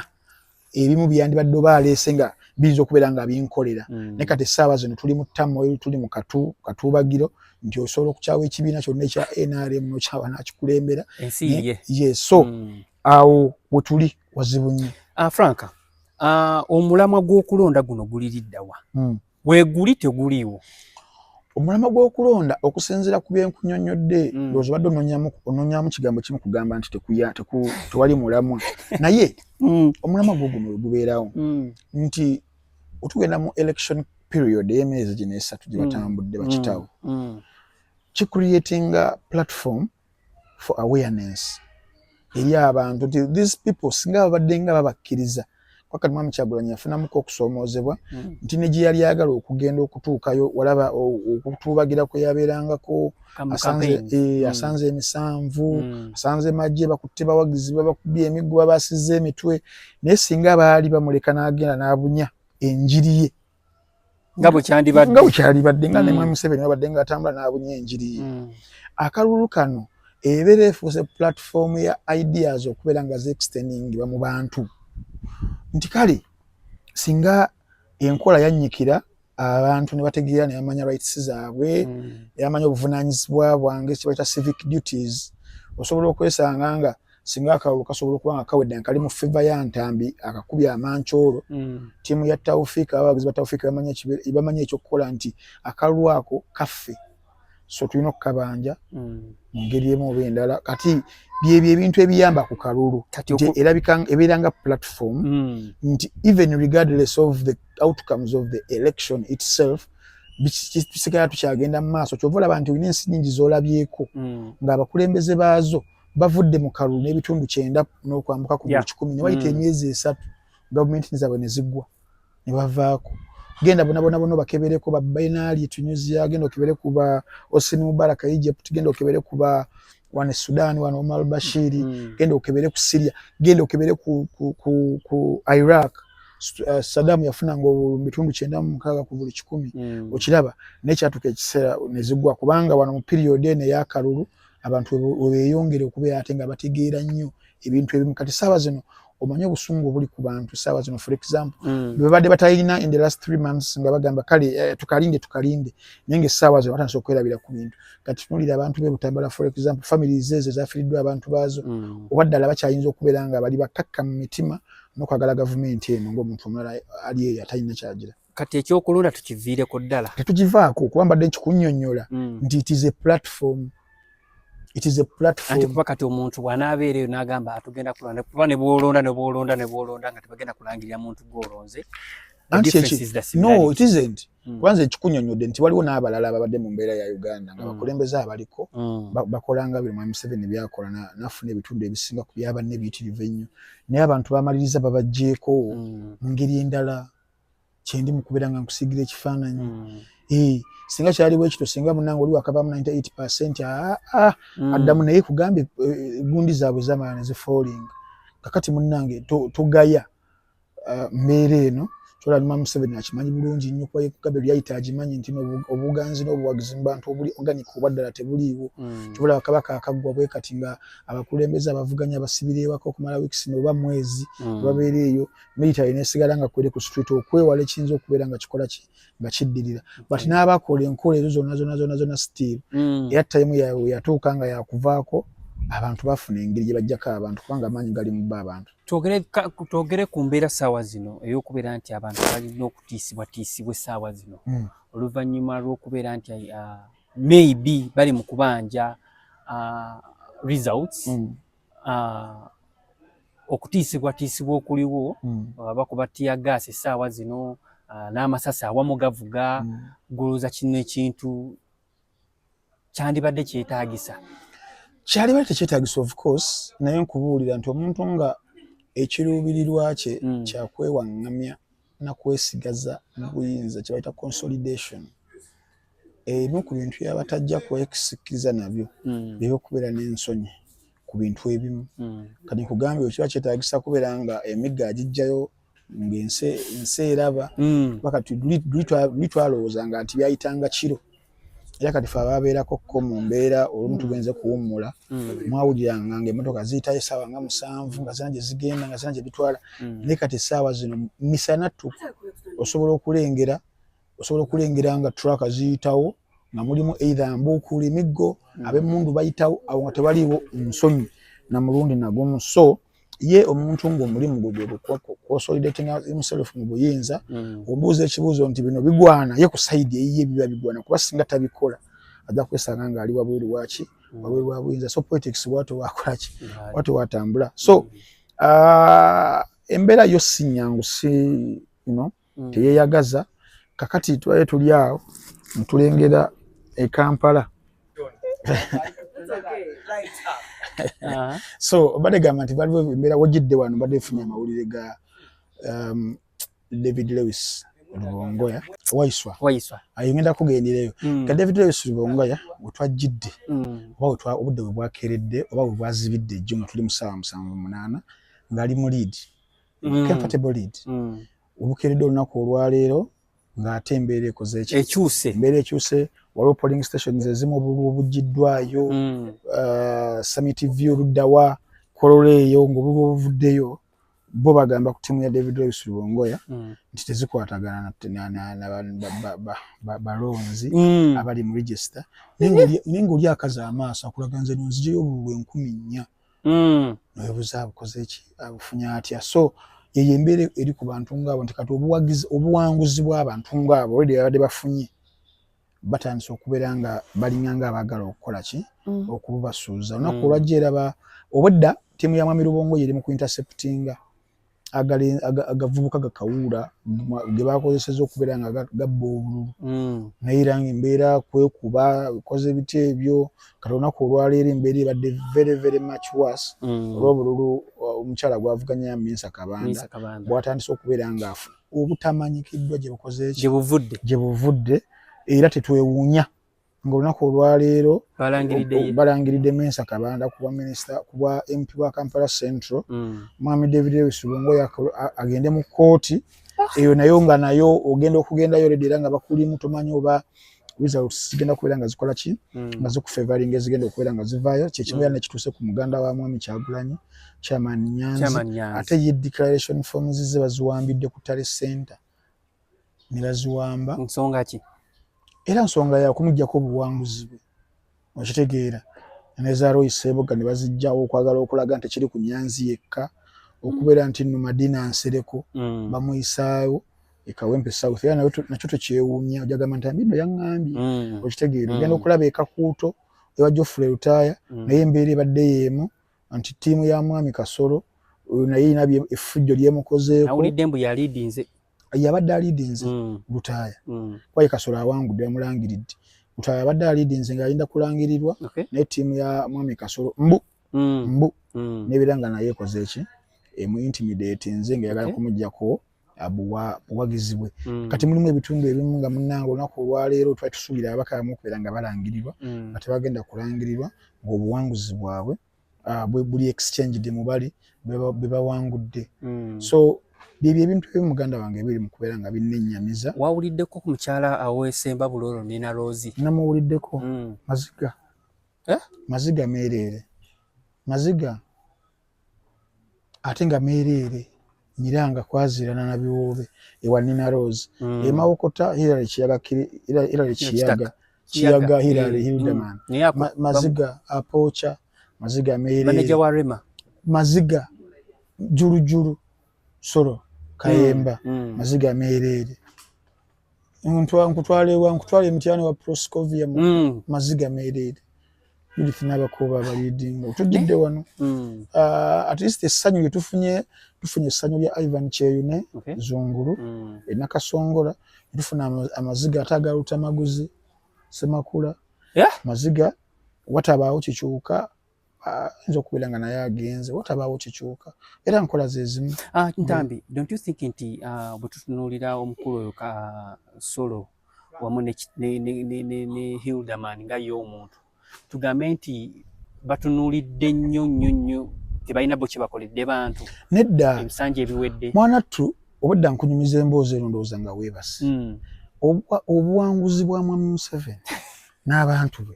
ebimu byandibadde oba aleese nga biyinza okubeera nga binkolera mm. naye kati essaawa zino tuli mu tamoil tuli mu katu katuubagiro nti osobola okukyawa ekibiina kyonna ekya nrm nokyawa nakikulembera ye so mm. awo wetuli wazibu nnyo ah, frank ah, omulamwa gw'okulonda guno guliriddawa mm. weguli teguliiwo omulamwa gw'okulonda okusinziira ku byenkunyonnyodde mm. loozi obadde ononyamu kigambo kimu kugamba nti tewali mulamwa naye mm. omulamwa gwo guno wegubeerawo mm. nti otugenda mu election period ey'emyezi gino esatu gye batambudde bakitawo kicreatinga platform for awareness eri abantu nti these people singa babadde nga babakkiriza wakati mwami kyagulanyi yafunamuko okusoomoozebwa hmm. nti ne gye yali ayagala okugenda okutuukayo walaba okutuubagira kwe yabeerangako asanze eh, hmm. asanze emisanvu hmm. asanze magye bakutte bawagizi babakubye emiggo babasiza emitwe naye singa baali bamuleka n'agenda n'abunya enjiri ye nga bwekyandibadde nga bwekyalibadde nga nemwe mm. museveni wabadde nga atambula nabunye enjiri mm. akalulu kano ebeera efuuse platform ya ideas okubeera nga zexteningibwa mu bantu nti kale singa enkola yannyikira abantu ne bategeera ne bamanya rights zaabwe mm. ne bamanya obuvunanyizibwa bwange kibaita civic duties osobola okwesanga nga singa akalulu kasobola okuba nga kawedde nga kali mu feva ya ntambi akakubye amancoolo mm. tiimu ya tawfiika abawagizi ba tawfiika bamanya ekyokukola nti akalulu ako kaffe so tulina okukabanja mm. mu ngeri emu oba endala kati byebyo ebintu ebiyamba ku kalulu ebeera nga platform mm. nti even regardless of the outcomes of the election itself tusigala tukyagenda mu maaso kyova olaba nti olina ensi nyingi zolabyeko ngaabakulembeze baazo bavudde mu kalulu n'ebitundu kyenda n'okwambuka ku buli kikumi ne bayita mm. emyezi esatu gavumenti zaabwe ne ziggwa ne bavaako genda bonabona bona bakebereko ba bainali tunisia genda okebere kuba osini mubaraka egypt genda okebere kuba wane sudan wane omar bashiri mm. genda okebere ku syria genda okebere ku, ku, ku, ku iraq Eh, sadamu yafuna nga bitundu kyenda mu mukaaga ku buli kikumi mm. okiraba naye kyatuka ekiseera nezigwa kubanga wano mu period eno eyakalulu abantu webeyongere okubeera ate nga bategeera nnyo ebintu ebimu kati saawa zino omanyi obusungu obuli ku bantu saawa zino for example mm. bebadde batalina in the last three months nga bagamba kale eh, tukalinde tukalinde naye nga essaawa zino batandisa okwerabira ku bintu kati tunulira abantu be butambala for example family zeezo ezafiriddwa abantu baazo mm. oba ddala bakyayinza okubeera nga bali bakakka mu mitima nokwagala gavumenti eno ngaomuntu omulala ali eyo atalina kyagira kati ekyokulonda tukiviireko ddala tetugivaako okuba mbadde nkikunyonyola mm. nti it is a platform it is a platform kuba kati omuntu bw'anaabeera eyo n'agamba atugenda kulonda kuba ne bw'olonda ne bw'olonda ne bw'olonda nga tebagenda kulangirira muntu gw'olonze no it isn't mm. kwanza ekikunyonyodde nti waliwo n'abalala ababadde mu mbeera ya uganda nga mm. bakulembeze abaliko mm. bakolanga buli mwami museveni byakola nafuna ebitundu ebisinga ku byabanne ebiyitirivu ennyo naye abantu bamaliriza babajjeeko mm. mu ngeri endala kyendi mukubera nga nkusigira ekifaananyi mm. eh, singa kyali bwekito singa munange oli wakavamu 98 percent ah, ah, mm. addamu naye kugambye eh, gundi zaabwe zamala nezifoolinga kakati munange togaya ah, mbeera eno kyolalima museveni akimanyi bulungi nnyo kuba yekugabe lyayita agimanyi nti obuganzi n'obuwagizi mu bantu obuli organic oba ddala tebuliiwo mm. kyobalaba kabaka akaggwa bwe kati nga abakulembeze abavuganya basibireewako okumala wiikisi noba mwezi mm. babeera eyo military nesigala nga kwere ku street okwewala ekiyinza okubeera nga kikola ki nga kiddirira but mm. n'abakola enkola ezo zonna zonna zonna zonna still mm. era tayimu yatuuka nga yakuvaako abantu bafuna engeri gye bajjako abantu kubanga amaanyi gali mu bba abantu twogere ku mbeera saawa zino ey'okubeera nti abantu balina okutiisibwatiisibwa essaawa zino mm. oluvannyuma lw'okubeera nti uh, maybe bali mu kubanja uh, results mm. Ah, okutiisibwatiisibwa okuliwo hmm. ah, bakuba tiya gaasi essaawa zino ah, n'amasasi awamu gavuga hmm. gulooza kino ekintu kyandibadde kyetaagisa kyalibadde tekyetaagisa of course naye nkubuulira nti omuntu nga ekiruubirirwa kye hmm. kyakwewaŋŋamya na kwesigaza mu buyinza kye bayita consolidation ebimu ku bintu byaba tajja kwesikiriza nabyo hmm. bye by'okubeera n'ensonyi ku bintu ebimu hmm. kati nkugambye bwe kiba kyetaagisa kubeera nga emigga agiggyayo ng'ensi eraba hmm. baka tuli twalowooza nga nti byayitanga kiro era kati fe ababeerako ko mu mbeera olumu mm. tugenze kuwummula mm. mwawuliranga nga emotoka ziyitayo essaawa nga musanvu nga zina gye zigenda nga zina gye bitwala mm. naye kati essaawa zino misana tu osobola okulengera osobola okulengera nga traka ziyitawo nga mulimu eitha mbuukuula emiggo ab'emmundu bayitawo awo nga tewaliiwo nsonyi na mulundi nagumu so ye omuntu nga omulimu gwe gwe kosolidatinga himself mu buyinza mm. obuuza ekibuuzo nti bino bigwana ye ku saidi eyiye biba bigwana kuba singa tabikola ajja kwesanga nga ali wabweru waki mm. wabweru wa buyinza so politics watu wakolaki watu watambula so mm. uh, embeera yo sinyangu si you know, mm. teyeyagaza kakati twaye tuli awo ntulengera e kampala uh-huh. so badegamba nti baliwo embeera wajidde wano mbadde efunye amawulire ga um, david lewis lubongoya waiswa waiswa ayongenda kugendereyo mm. ka david lewis lubongoya wetwajjidde mm. oba obudde bwe bwakeredde oba bwe bwazibidde ejjuma tuli musaawa musanvu munaana ngaali mu liidi mm. comfortable lead mm. obukeeredde olunaku olwaleero ng'ate embeera ekoze ekyuse embeera ekyuse waliwo polling stations ezimu obululu obuggiddwayo mm. uh, summit view luddawa kololo eyo ng'obululu obuvuddeyo bo bagamba ku ttiimu ya david royce lubongoya mm. nti tezikwatagana balonzi mm. abali mu register naye ng'oli akaza amaaso akulaga nze nonzijeyo obululu enkumi nnya mm. nowebuza abukozeki abufunye atya so yeyo embeera eri ku bantu ngaabo nti kati obuwanguzi bw'abantu ngaabo olwedi babadde bafunye batandise okubeera nga balinga nga abaagala okukola ki mm. okububasuuza olunaku mm. olwajja eraba obwedda ttiimu ya mwami lubongo yeri mu kuinterceptinga agavubuka gakawuula ge bakozeseza okubeera nga gabba obululu mm. naye era nga embeera kwekuba koze ebiti ebyo kati olunaku olwaleero embeera ebadde very very much worse mm. olwobululu uh, omukyala gwavuganya minsa kabanda bwatandise okubeera nga obutamanyikiddwa gyebukoze gye buvudde era tetwewuunya nga olunaku olwaleero balangiridde mensa kabanda kubwa minisita kubwa mp wa kampala central mm. mwami david lewis lungo agende mu kooti eyo nayo nga nayo ogenda okugendayo ledi era nga bakulimu tomanyi oba results zigenda kubeera nga zikola ki mm. nga zikufevaringa ezigenda okubeera nga zivaayo kyekimu era mm. nekituuse ku muganda wa mwami kyagulanyi chairman nyanzi ate ye declaration forms ze baziwambidde ku tale center nebaziwamba nsonga ki era nsonga yakumujjako obuwanguzi bwe okitegeera nezaroyi sebuga nebazijjawo okwagala okulaga nti kiri ku nyanzi yekka okubeera nti no madina nsereko mm. bamuyisaawo ekawempe south era nakyo tekyewuunya ojagamba nti ambino yaŋambye mm. okitegeera mm. ogenda okulaba ekakuuto ewa jofule lutaaya naye embeera ebadde yeemu nti ttiimu ya mwami kasolo naye inabye effujjo lyemukozeeko yabadde aliidinze mm. lutaaya mm. kwaye kasolo awangudde yamulangiridde lutaaya yabadde aliidinze ng'alinda kulangirirwa okay. naye ttiimu ya mwami kasolo mbu mm. mbu mm. nebeera nga naye ekoze eki emu intimidate nze nga yagala okay. kumujjako buwagizi bwe mm. kati mulimu ebitundu ebimu nga munanga olunaku olwaleero twali tusuubira abakaamu okubeera nga balangirirwa mm. nga tebagenda kulangirirwa ng'obuwanguzi bwabwe uh, buli exchanged mubali bebawangudde mm. so byebyo ebintu ebi muganda wange ebiri mu kubeera nga binnenyamiza wawuliddeko ku mukyala awesemba bulolo nina rozi namuwuliddeko mm. maziga eh? maziga meereere maziga ate nga meereere Miranga kwazirana na biwoobe ewa Nina Rose mm. emawokota Hilary Kiyaga Hilary Kiyaga Kiyaga Hilary mm. Hildeman mm. Maziga Apocha Maziga Mary Manager wa Rema Maziga Juru Juru Soro Kayemba mm. mm. Maziga Mary nkutwala ewa nkutwala emityana wa proscovia mu mm. maziga meereere judith n'abakooba abaliidinga otujjidde eh? wano mm. ah, at least essanyu lye tufunye tufunye essanyu lya ivan kyeyune zungulu mm. enakasongola tufuna amaziga ate agalutamaguzi semakula maziga watabaawo kikyuka Ah, nza okubeera nga naye agenze watabaawo kikyuka era nkola zezimu ah, ntambi don't you think nti ah, bwetutunuulira omukulu oyo ka solo wamu ne hilderman nga ye omuntu tugambe nti batunuulidde nnyo nnyo nnyo tebalina bo kyebakoledde bantu nedda ebisanja ebiwedde mwana ttu obadda nkunyumiza emboozi eno ndowooza nga weebasi hmm. obuwanguzi bwa mwami museveni n'abantu be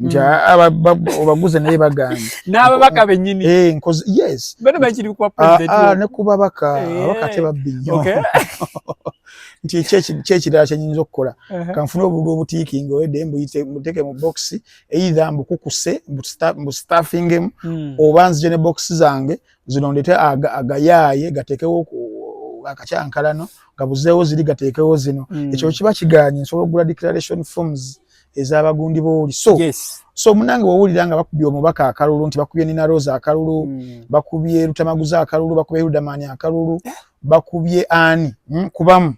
nti mm. obaguze naye bagambye n'ababaka bennyini eh, yes bano bakiri ku president ah, ah, ne ku babaka eh. ababaka te babbi nnyo nti kyekirala kyenyinza okukola uh-huh. kanfuna obululu obutiikinga oyedde mbuteeke mu bokisi eitha mbukukuse mbustafingemu hmm. oba nzije ne bokisi zange zino ndete agayaaye gateekewo akakyankalano nga buzeewo ziri gateekewo zino hmm. ekyo kiba kigaanye nsobola okugula declaration forms ezabagundi boli so yes. so munange wawulira nga bakubye omubaka akalulu nti bakubye nina rosa akalulu mm. bakubye lutamaguza akalulu bakubye hudamani akalulu eh? bakubye ani mm? kubamu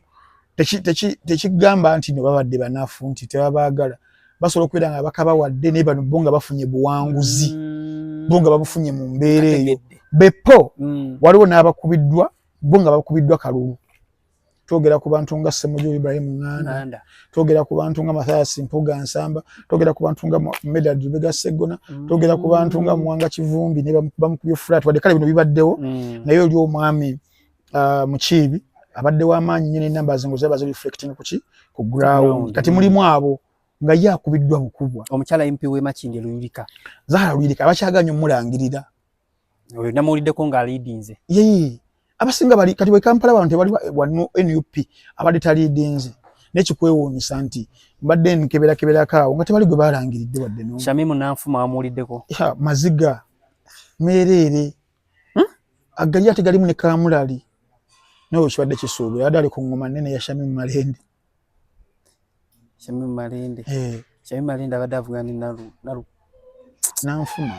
tekigamba nti no babadde banafu nti tebabagala basobola okubeera nga bakabawadde naye bano bo nga bafunye buwanguzi mm. bo nga babufunye mu mbeera eyo bepo mm. waliwo n'abakubiddwa bo nga bakubiddwa kalulu twogera ku bantu nga Ssemuju Ibrahim Nganda, twogera ku bantu nga Mathias Mpuga Nsamba, twogera ku bantu nga Medard Lubega Ssegona, mm. twogera ku bantu nga Mwanga Kivumbi ne bamukubye flat wadde kale bino bibaddewo mm. naye oli omwami uh, Mukiibi abadde w'amaanyi nnyo n'ennamba ze ngo zaba zi reflecting ku ki ku ground kati mulimu abo nga ye akubiddwa bukubwa omukyala mp w'e Makindye Luyirika Zahara Luyirika abakyaganya omulangirira oyo namuwuliddeko nga aliidinze yee abasinga bali kati wekampala wano tewali wano nup abadde taliidinze nekikwewuunyisa nti mbadde nkeberakebelako awo nga tewali gwe balangiridde wadde no shamimu nanfuma wamuwuliddeko maziga meereere hmm? agali ate galimu ne kamulali nawe kibadde kisuubira adde ali ku ngoma nene ya shamimu malende Shamim Malende. Eh. Shamim Malende abadde avugana ne Nalu. Nalu. Nanfuma.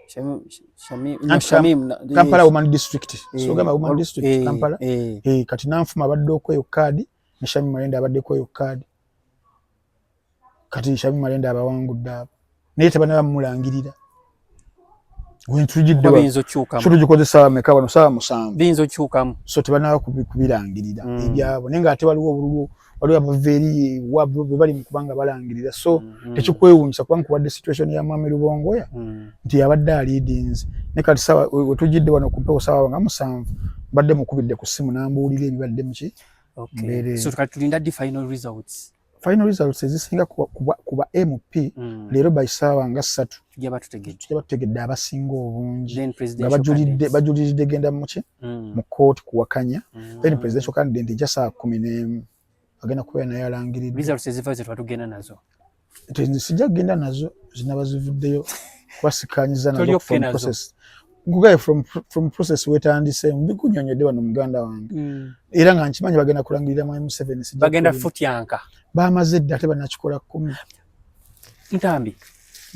Shamim, Shamim, no, Shamim, eh, Kampala Woman District. Eh, so gamba Woman District eh, Kampala. Eh. eh kati nanfuma abadde okweyo kaadi ne Shamim Malende abadde kweyo kaadi. kati nshabi malenda abawangudde abo naye tebana bamulangirira wentujiddekyotugikozesa meka bano saawa musanvu biyinza okyukamu so tebana kubirangirira mm. ebyabo naye nga ate waliwo obululu waliwo abava eri wabwe bwe bali mukubanga balangirira so mm, mm. tekikwewunyisa kuba nkuwadde situation ya mwami lubongoya mm. nti yabadde aliidinzi ne kati sawa wetujidde wano ku mpewo sawa nga musanvu mbadde mukubidde ku ssimu nambuulira ebibadde muki okay. so, tulinda di final results final results ezisinga ku ba mp mm. leero by saawa nga ssatu jabatutegedde abasinga obungi nga bajuliridde genda muki mm. mu kooti kuwakanya mm. then presidential candidate eja saa kumi n'emu agenda kubeera naye alangiridde sijja kugenda nazo zinaba zivuddeyo kubasikanyiza nazo nkugaye from, from process wetandise mbikunyonyodde wano muganda wange mm. era nga nkimanyi bagenda kulangirira mwami museveni bagenda futyanka bamaze dda ate banakikola kumi ntambi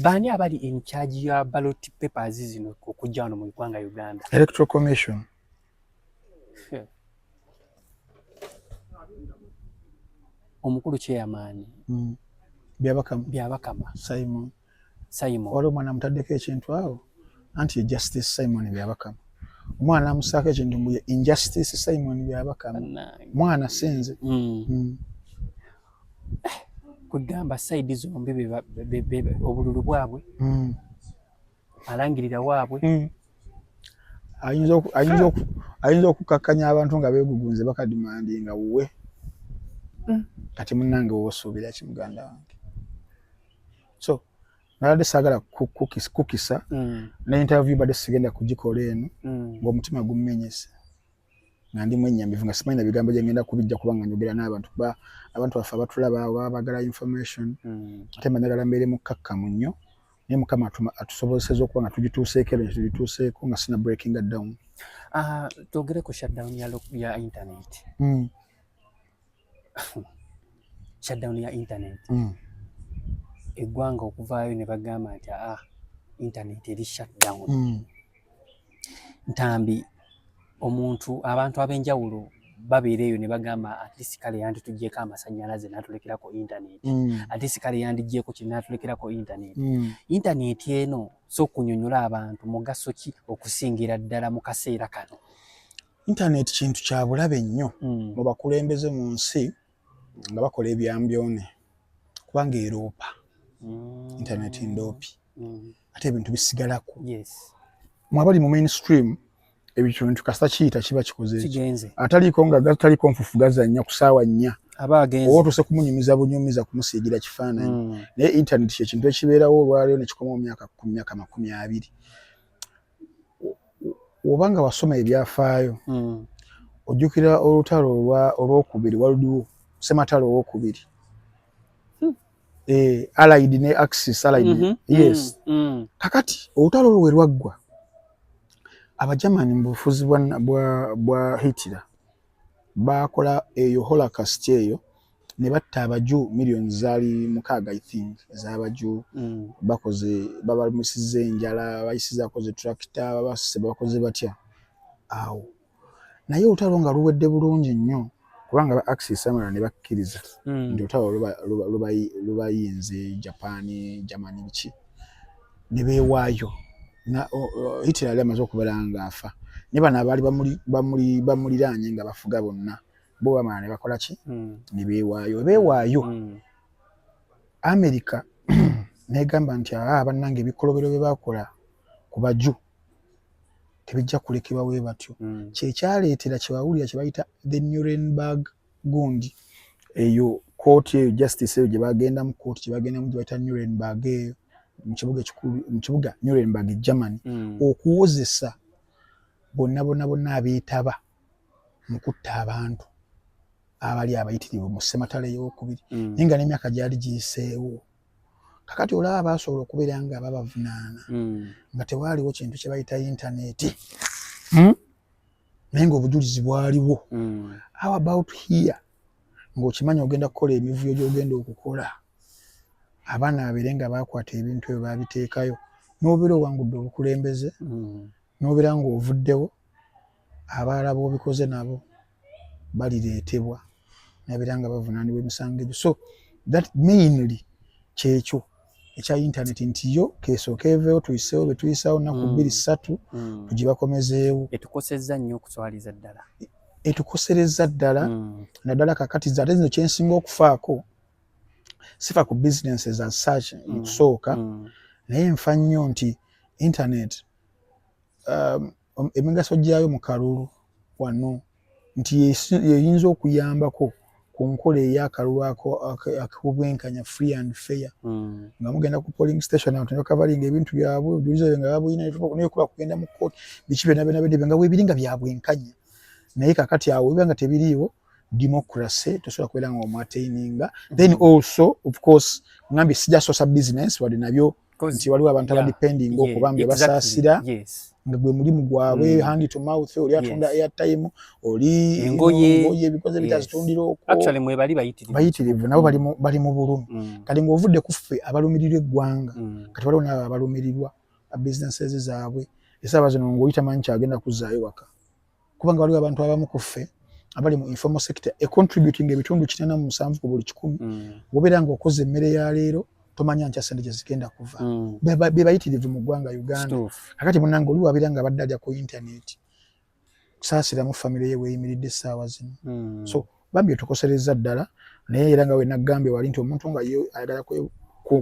baani abali in charge ya ballot papers zino okujja wano mu ugwanga uganda electoral commission omukulu kyeyamaani mm. byabakama byabakama simon Simon. Waliwo omwana amutaddeko ekintu awo anti ye Justice Simon Byabakama. Omwana amusaako ekintu mbu ye Injustice Simon Byabakama. Mwana sinze. Mm. Mm. Eh, kugamba side zombi obululu bwabwe mm. alangirira waabwe mm. ayinza okukakkanya abantu nga beegugunze bakadimandi nga wuwe mm. kati munange wosuubira ki muganda wange so nabadde sagala kukisa mm. ne interview badde sigenda kugikola eno mm. ngaomutima gumenyese nga ndi mwenyamivu nga simanyi na bigambo gyengenda kubijja kuba nga njogera n'abantu kuba abantu baffe abatulaba baba bagala information mm. ate managala mbeere mukkakkamu nnyo naye mukama atusobozeseza okuba nga tugituuseeko ero tugituuseeko nga sina breakinga down ah, twogere ku shutdown ya internet mm. shutdown ya internet mm. eggwanga okuvaayo ne bagamba nti aa ah, internet eri shutdown mm. ntambi omuntu abantu ab'enjawulo babeera eyo ne bagamba atleast kale yanditugyeko amasannyalaze n'atulekerako internet mm. atleast kale yandigyeko kiri n'atulekerako internet mm. internet eno so okunyonyola abantu mugaso ki okusingira ddala mu kaseera kano Internet kintu kya bulabe nnyo mm. mu bakulembeze mu nsi nga bakola ebyambyone kubanga eroopa mm. internet ndoopi mm. ate ebintu bisigalako yes. mwabali mu mainstream ebikintu kasita kiyita kiba kikoze ataliiko nga gataliko nfufu gazannya ku saawa nnya aba agenze oba otuuse kumunyumiza bunyumiza kumusiigira kifaananyi mm. naye internet kyekintu ekibeerawo olwaleero nekikoma mu myaka ku myaka makumi abiri oba nga wasoma ebyafaayo mm. ojjukira olutalo olwokubiri waludiwo sematalo owokubiri hmm. eh, alid ne axis alid mm -hmm. yes mm -hmm. kakati olutalo olwo we lwaggwa abajamani mu bufuzi bwa, bwa, bwa hitira bakola eyo holokast eyo ne batta abaju millions zaali mukaaga i think ez'abaju mm. bakoze babamusiza enjala bayisizaako ze tractor babasise bakoze batya awo naye olutalo nga luwedde bulungi nnyo kubanga ba axis amala ne bakkiriza mm. nti olutalo lubayinze japan german biki ne beewaayo hitler yali amaze okubeera ng'afa ne bano abaali bamuliraanye nga bafuga bonna bo bamala ne bakola ki hmm. ne beewaayo we beewaayo hmm. amerika negamba nti aa bannange ebikolobero bye bakola ku baju tebijja kulekebwa we batyo hmm. kyekyaleetera kyebawulira kye bayita the nurenburg gund eyo kooti eyo justice eyo gye bagendamu kooti gye bagendamu gye bayita nurenburg eyo mu kibuga ekikulu mu kibuga nurenburg germany okuwozesa bonna bonna bonna abeetaba mu kutta abantu abali abayitirivu mu ssematala ey'okubiri mm. naye nga n'emyaka gyali giyiseewo kakati olaba baasobola okubeera nga babavunaana mm. nga tewaaliwo kintu kye bayita yintaneeti hmm? naye ngaobujulizi bwaliwo mm. how about here ng'okimanyi ogenda kukola emivuyo gy'ogenda okukola abaana babeere nga baakwata ebintu ebyo baabiteekayo n'obeera owangudde obukulembeze N'obeera ng'ovuddewo, abalala b'obikoze nabo balireetebwa nabeera nga bavunaanibwa emisango egyo so that mainly kyekyo ekya internet nti yo kesooka eveewo tuyiseewo betuyisawo naku mm. bbiri ssatu mm. tugibakomezeewo etukosezza nnyo okuswaliza ddala e, etukoserezza ddala mm. naddala kakati ate zino kyensinga okufaako sifa ku businesses as such kusooka naye nfa nnyo nti internet um, emigaso gyayo mu kalulu wano nti yeyinza okuyambako ku nkola ey'akalulu ak'obwenkanya free and fair hmm. nga mugenda ku polling station abantu nebakavalinga ebintu byabwe obujuliza bwe nga babulina nekuba kugenda mu kooti biki byona byona bede nga webiri nga byabwenkanya naye kakati awo biba nga tebiriiwo democracy tosobola kubeera nga omwateininga then hmm. also of course ngambye sijasosa business wadde nabyo nti waliwo abantu yeah. abadepending yeah. okuba mbe exactly. basaasira yes. nga gwe mulimu gwabwe mm. hand to mouth oli atunda yes. airtime oli engoye ebikoze bitazitundira yes. okwoactually mwe bali bayitirivu bayitirivu nabo bali mu, bali mu bulumi mm. kati ng'ovudde ku ffe abalumirirwa eggwanga mm. kati waliwo nabo abalumirirwa businesses zaabwe esaba zino ng'oyita manyi kyagenda kuzzaayo waka kubanga waliwo abantu abamu ku ffe abali mu informal sector econtributing ebitundu kitana mu musanvu ku buli kikumi mm. wobeera nga okoze emmere ya leero tomanya nkya sente gyezigenda kuva mm. bebayitirivu mu ggwanga uganda akati munange oli wabeera nga abadde alya ku intaneti kusaasiramu famiry ye weyimiridde essaawa zino mm. so Bambi otukoserezza ddala naye era nga wenagambye wali nti omuntu nga ye ayagala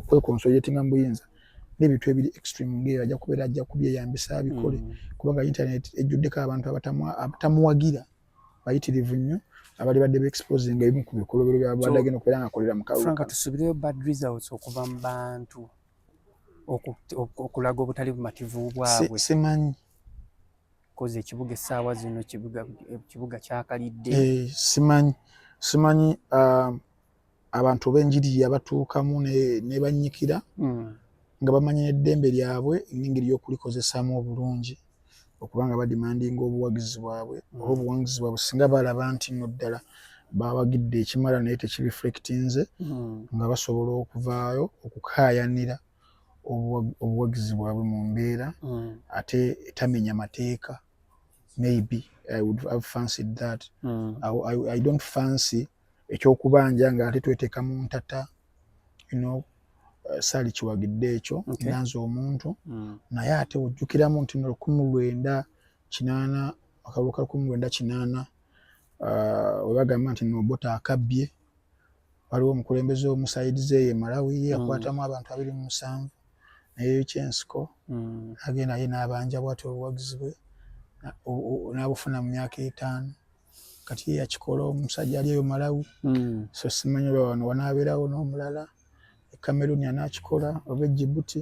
kwekonsoliatinga mubuyinza nebintu ebiri extreme ngaeyo ajja kubeera ajja kubyeyambisa abikole mm. kubanga internet ejjuddeko abantu abatamuwagira bayitirivu nnyo abali badde beexposinga ebimu ku bikolobero byabadde agenda okubeera nga akolera mukaaka tusubireyo bad results okuva mu bantu okulaga obutali bumativu bwabwe simanyi kozi ekibuga essaawa zino ekibuga kyakalidde eh, simanyi simanyi ah, abantu benjiri yabatuukamu nebanyikira hmm. nga bamanyi neddembe lyabwe nengeri yokulikozesaamu obulungi okubanga badimandinga obuwagizi bwabwe hmm. oba obuwangizi bwabwe singa balaba nti no ddala bawagidde ekimala naye tekireflectinze hmm. nga basobola okuvaayo okukayanira obuwagizi bwabwe mu mbeera mm. ate etamenya mateeka maybe i would have fancied that mm. I, I, i don't fancy ekyokubanja nga ate tweteka mu ntata you know uh, sali kiwagidde ekyo okay. nanze omuntu mm. naye ate ojjukiramu nti nolukumi lwenda kinaana akalukala kumi lwenda kinaana ah, webagamba nti nobota akabbye waliwo omukulembeze omusaidize ye malawi ye yakwatamu mm. abantu abiri mu musanvu neyekyensiko mm. agenda ye nabanja bwati obuwagizi bwe nabufuna mu myaka etaano kati ye yakikola omusajja ali eyo malawi mm. so simanyi oba wano wanabeerawo n'omulala ekameruni anakikola oba ejibuti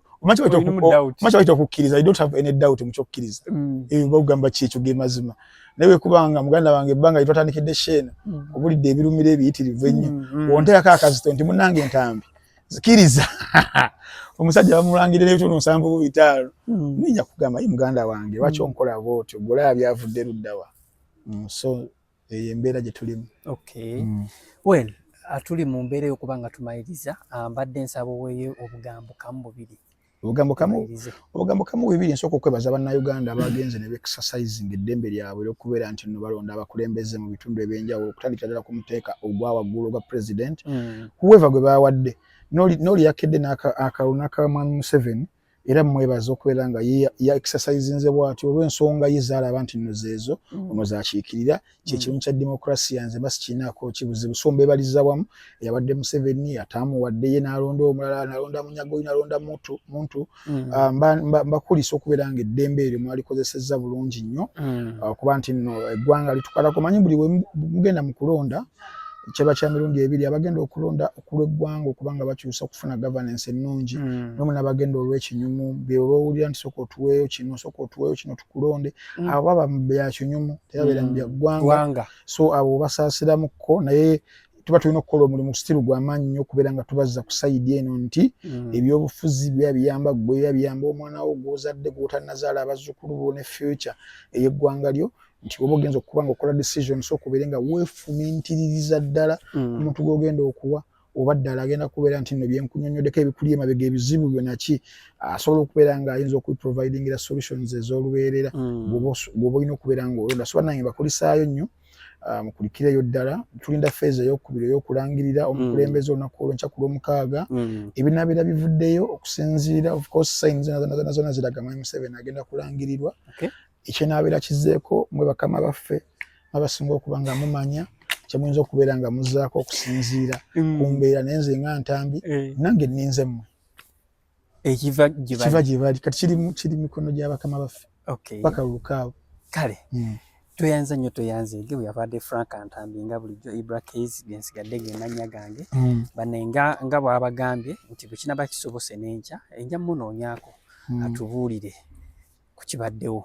omanyi kyayita okukkiriza i don't have any doubt mu kyokkiriza mm. ebyo mba kugamba ki ekyo ge mazima naye wekubanga muganda wange ebbanga lye twatandikidde sheena mm. obulidde ebirumira ebiyitirivu ennyo mm, wonteerako akazito nti munange entambi zikiriza omusajja bamulangire n'ebitundu nsanvu bu bitaalo ninja kugamba ye muganda wange lwaki onkola bwotyo golaaba byavudde luddawa so eyo embeera gye tulimu okay. mm. well uh, tuli mu mbeera eyokuba nga tumaliriza uh, mbadde um, nsaba oweeyo obugambo kamu bubiri obugambo kamu obugambo kamu bubiri nsooka okwebaza bannayuganda abagenze ne beexercising eddembe lyabwe lyokubeera nti nno balonda abakulembeze mu bitundu ebyenjawulo okutandikira ddala ku muteeka ogwa waggulu ogwa president mm. whoever gwe bawadde n'oli yakedde n'akalunaka mwami museveni no era mwebaza okubeera nga ya exercisinze bwatyo olw'ensonga ye zaalaba nti nno zeezo mm. ono zakiikirira kyekimu mm. kya demokrasiya nze mba sikiinaako kibuzibu so mbebaliza wamu eyabadde museveni ataamuwadde ye nalonda omulala nalonda munyagoyi nalonda muntu muntu mm. ah, mbakulisa okubeera nga eddembe eryo mwalikozesezza bulungi nnyo ah, okuba nti nno eggwanga litukalako manyi buli wemugenda mu kulonda kyeba kya mirundi ebiri abagenda okulonda okulweggwanga okuba nga bakyusa okufuna governance ennungi mm. nomu nabagenda olwekinyumu beobaowulira nti soka otuweeyo kino soka otuweeyo kino tukulonde mm. abo baba byakinyumu tebabeera mm. mubyaggwanga so abo basaasiramukko naye tuba tulina okukola omulimu sitiru gwamaanyi nyo okubeera nga tubazza ku sayidi eno nti mm. ebyobufuzi biba biyamba gwe biba biyamba omwana wo gwozadde gwotanazaala abazzukulu bo ne future ey'eggwanga lyo nti oba ogenza okuba nga okola decision so okubeere nga wefumintiririza ddala mm. omuntu mm. gwogenda okuwa oba ddala agenda kubeera nti no byenkunyonyodeko ebikuli emabega ebizibu byonaki asobola okubeera nga ayinza okuprovidingira solutions ezolubeerera mm. gwoba olina okubeera nga olonda soba nange bakulisaayo nnyo ah, mukulikireyo ddala tulinda feeza eyokubiri eyokulangirira mm. omukulembeze olunaku olwenkya ku lwomukaaga ebinabeera bivuddeyo okusinziira ofcourse signs zona ziraga mwami museveni agenda kulangirirwa ekyenabeera kizeeko mwe bakama baffe abasinga okuba nga mumanya kyemuyinza okubeera nga muzaako okusinziira mm. kumbeera naye nze nga ntambi eh. nange ninze mmwe ekiva gyebali kati kiri mikono gya bakama baffe paka lukaawo kale mm. tweyanza nnyo tweyanze ge bweyabadde frank antambi nga bulijjo ibra kas gensigadde gemannya gange mm. bane nga bwabagambye nti bwekinaba kisobose nenkya enja munoonyako atubuulire kukibaddewo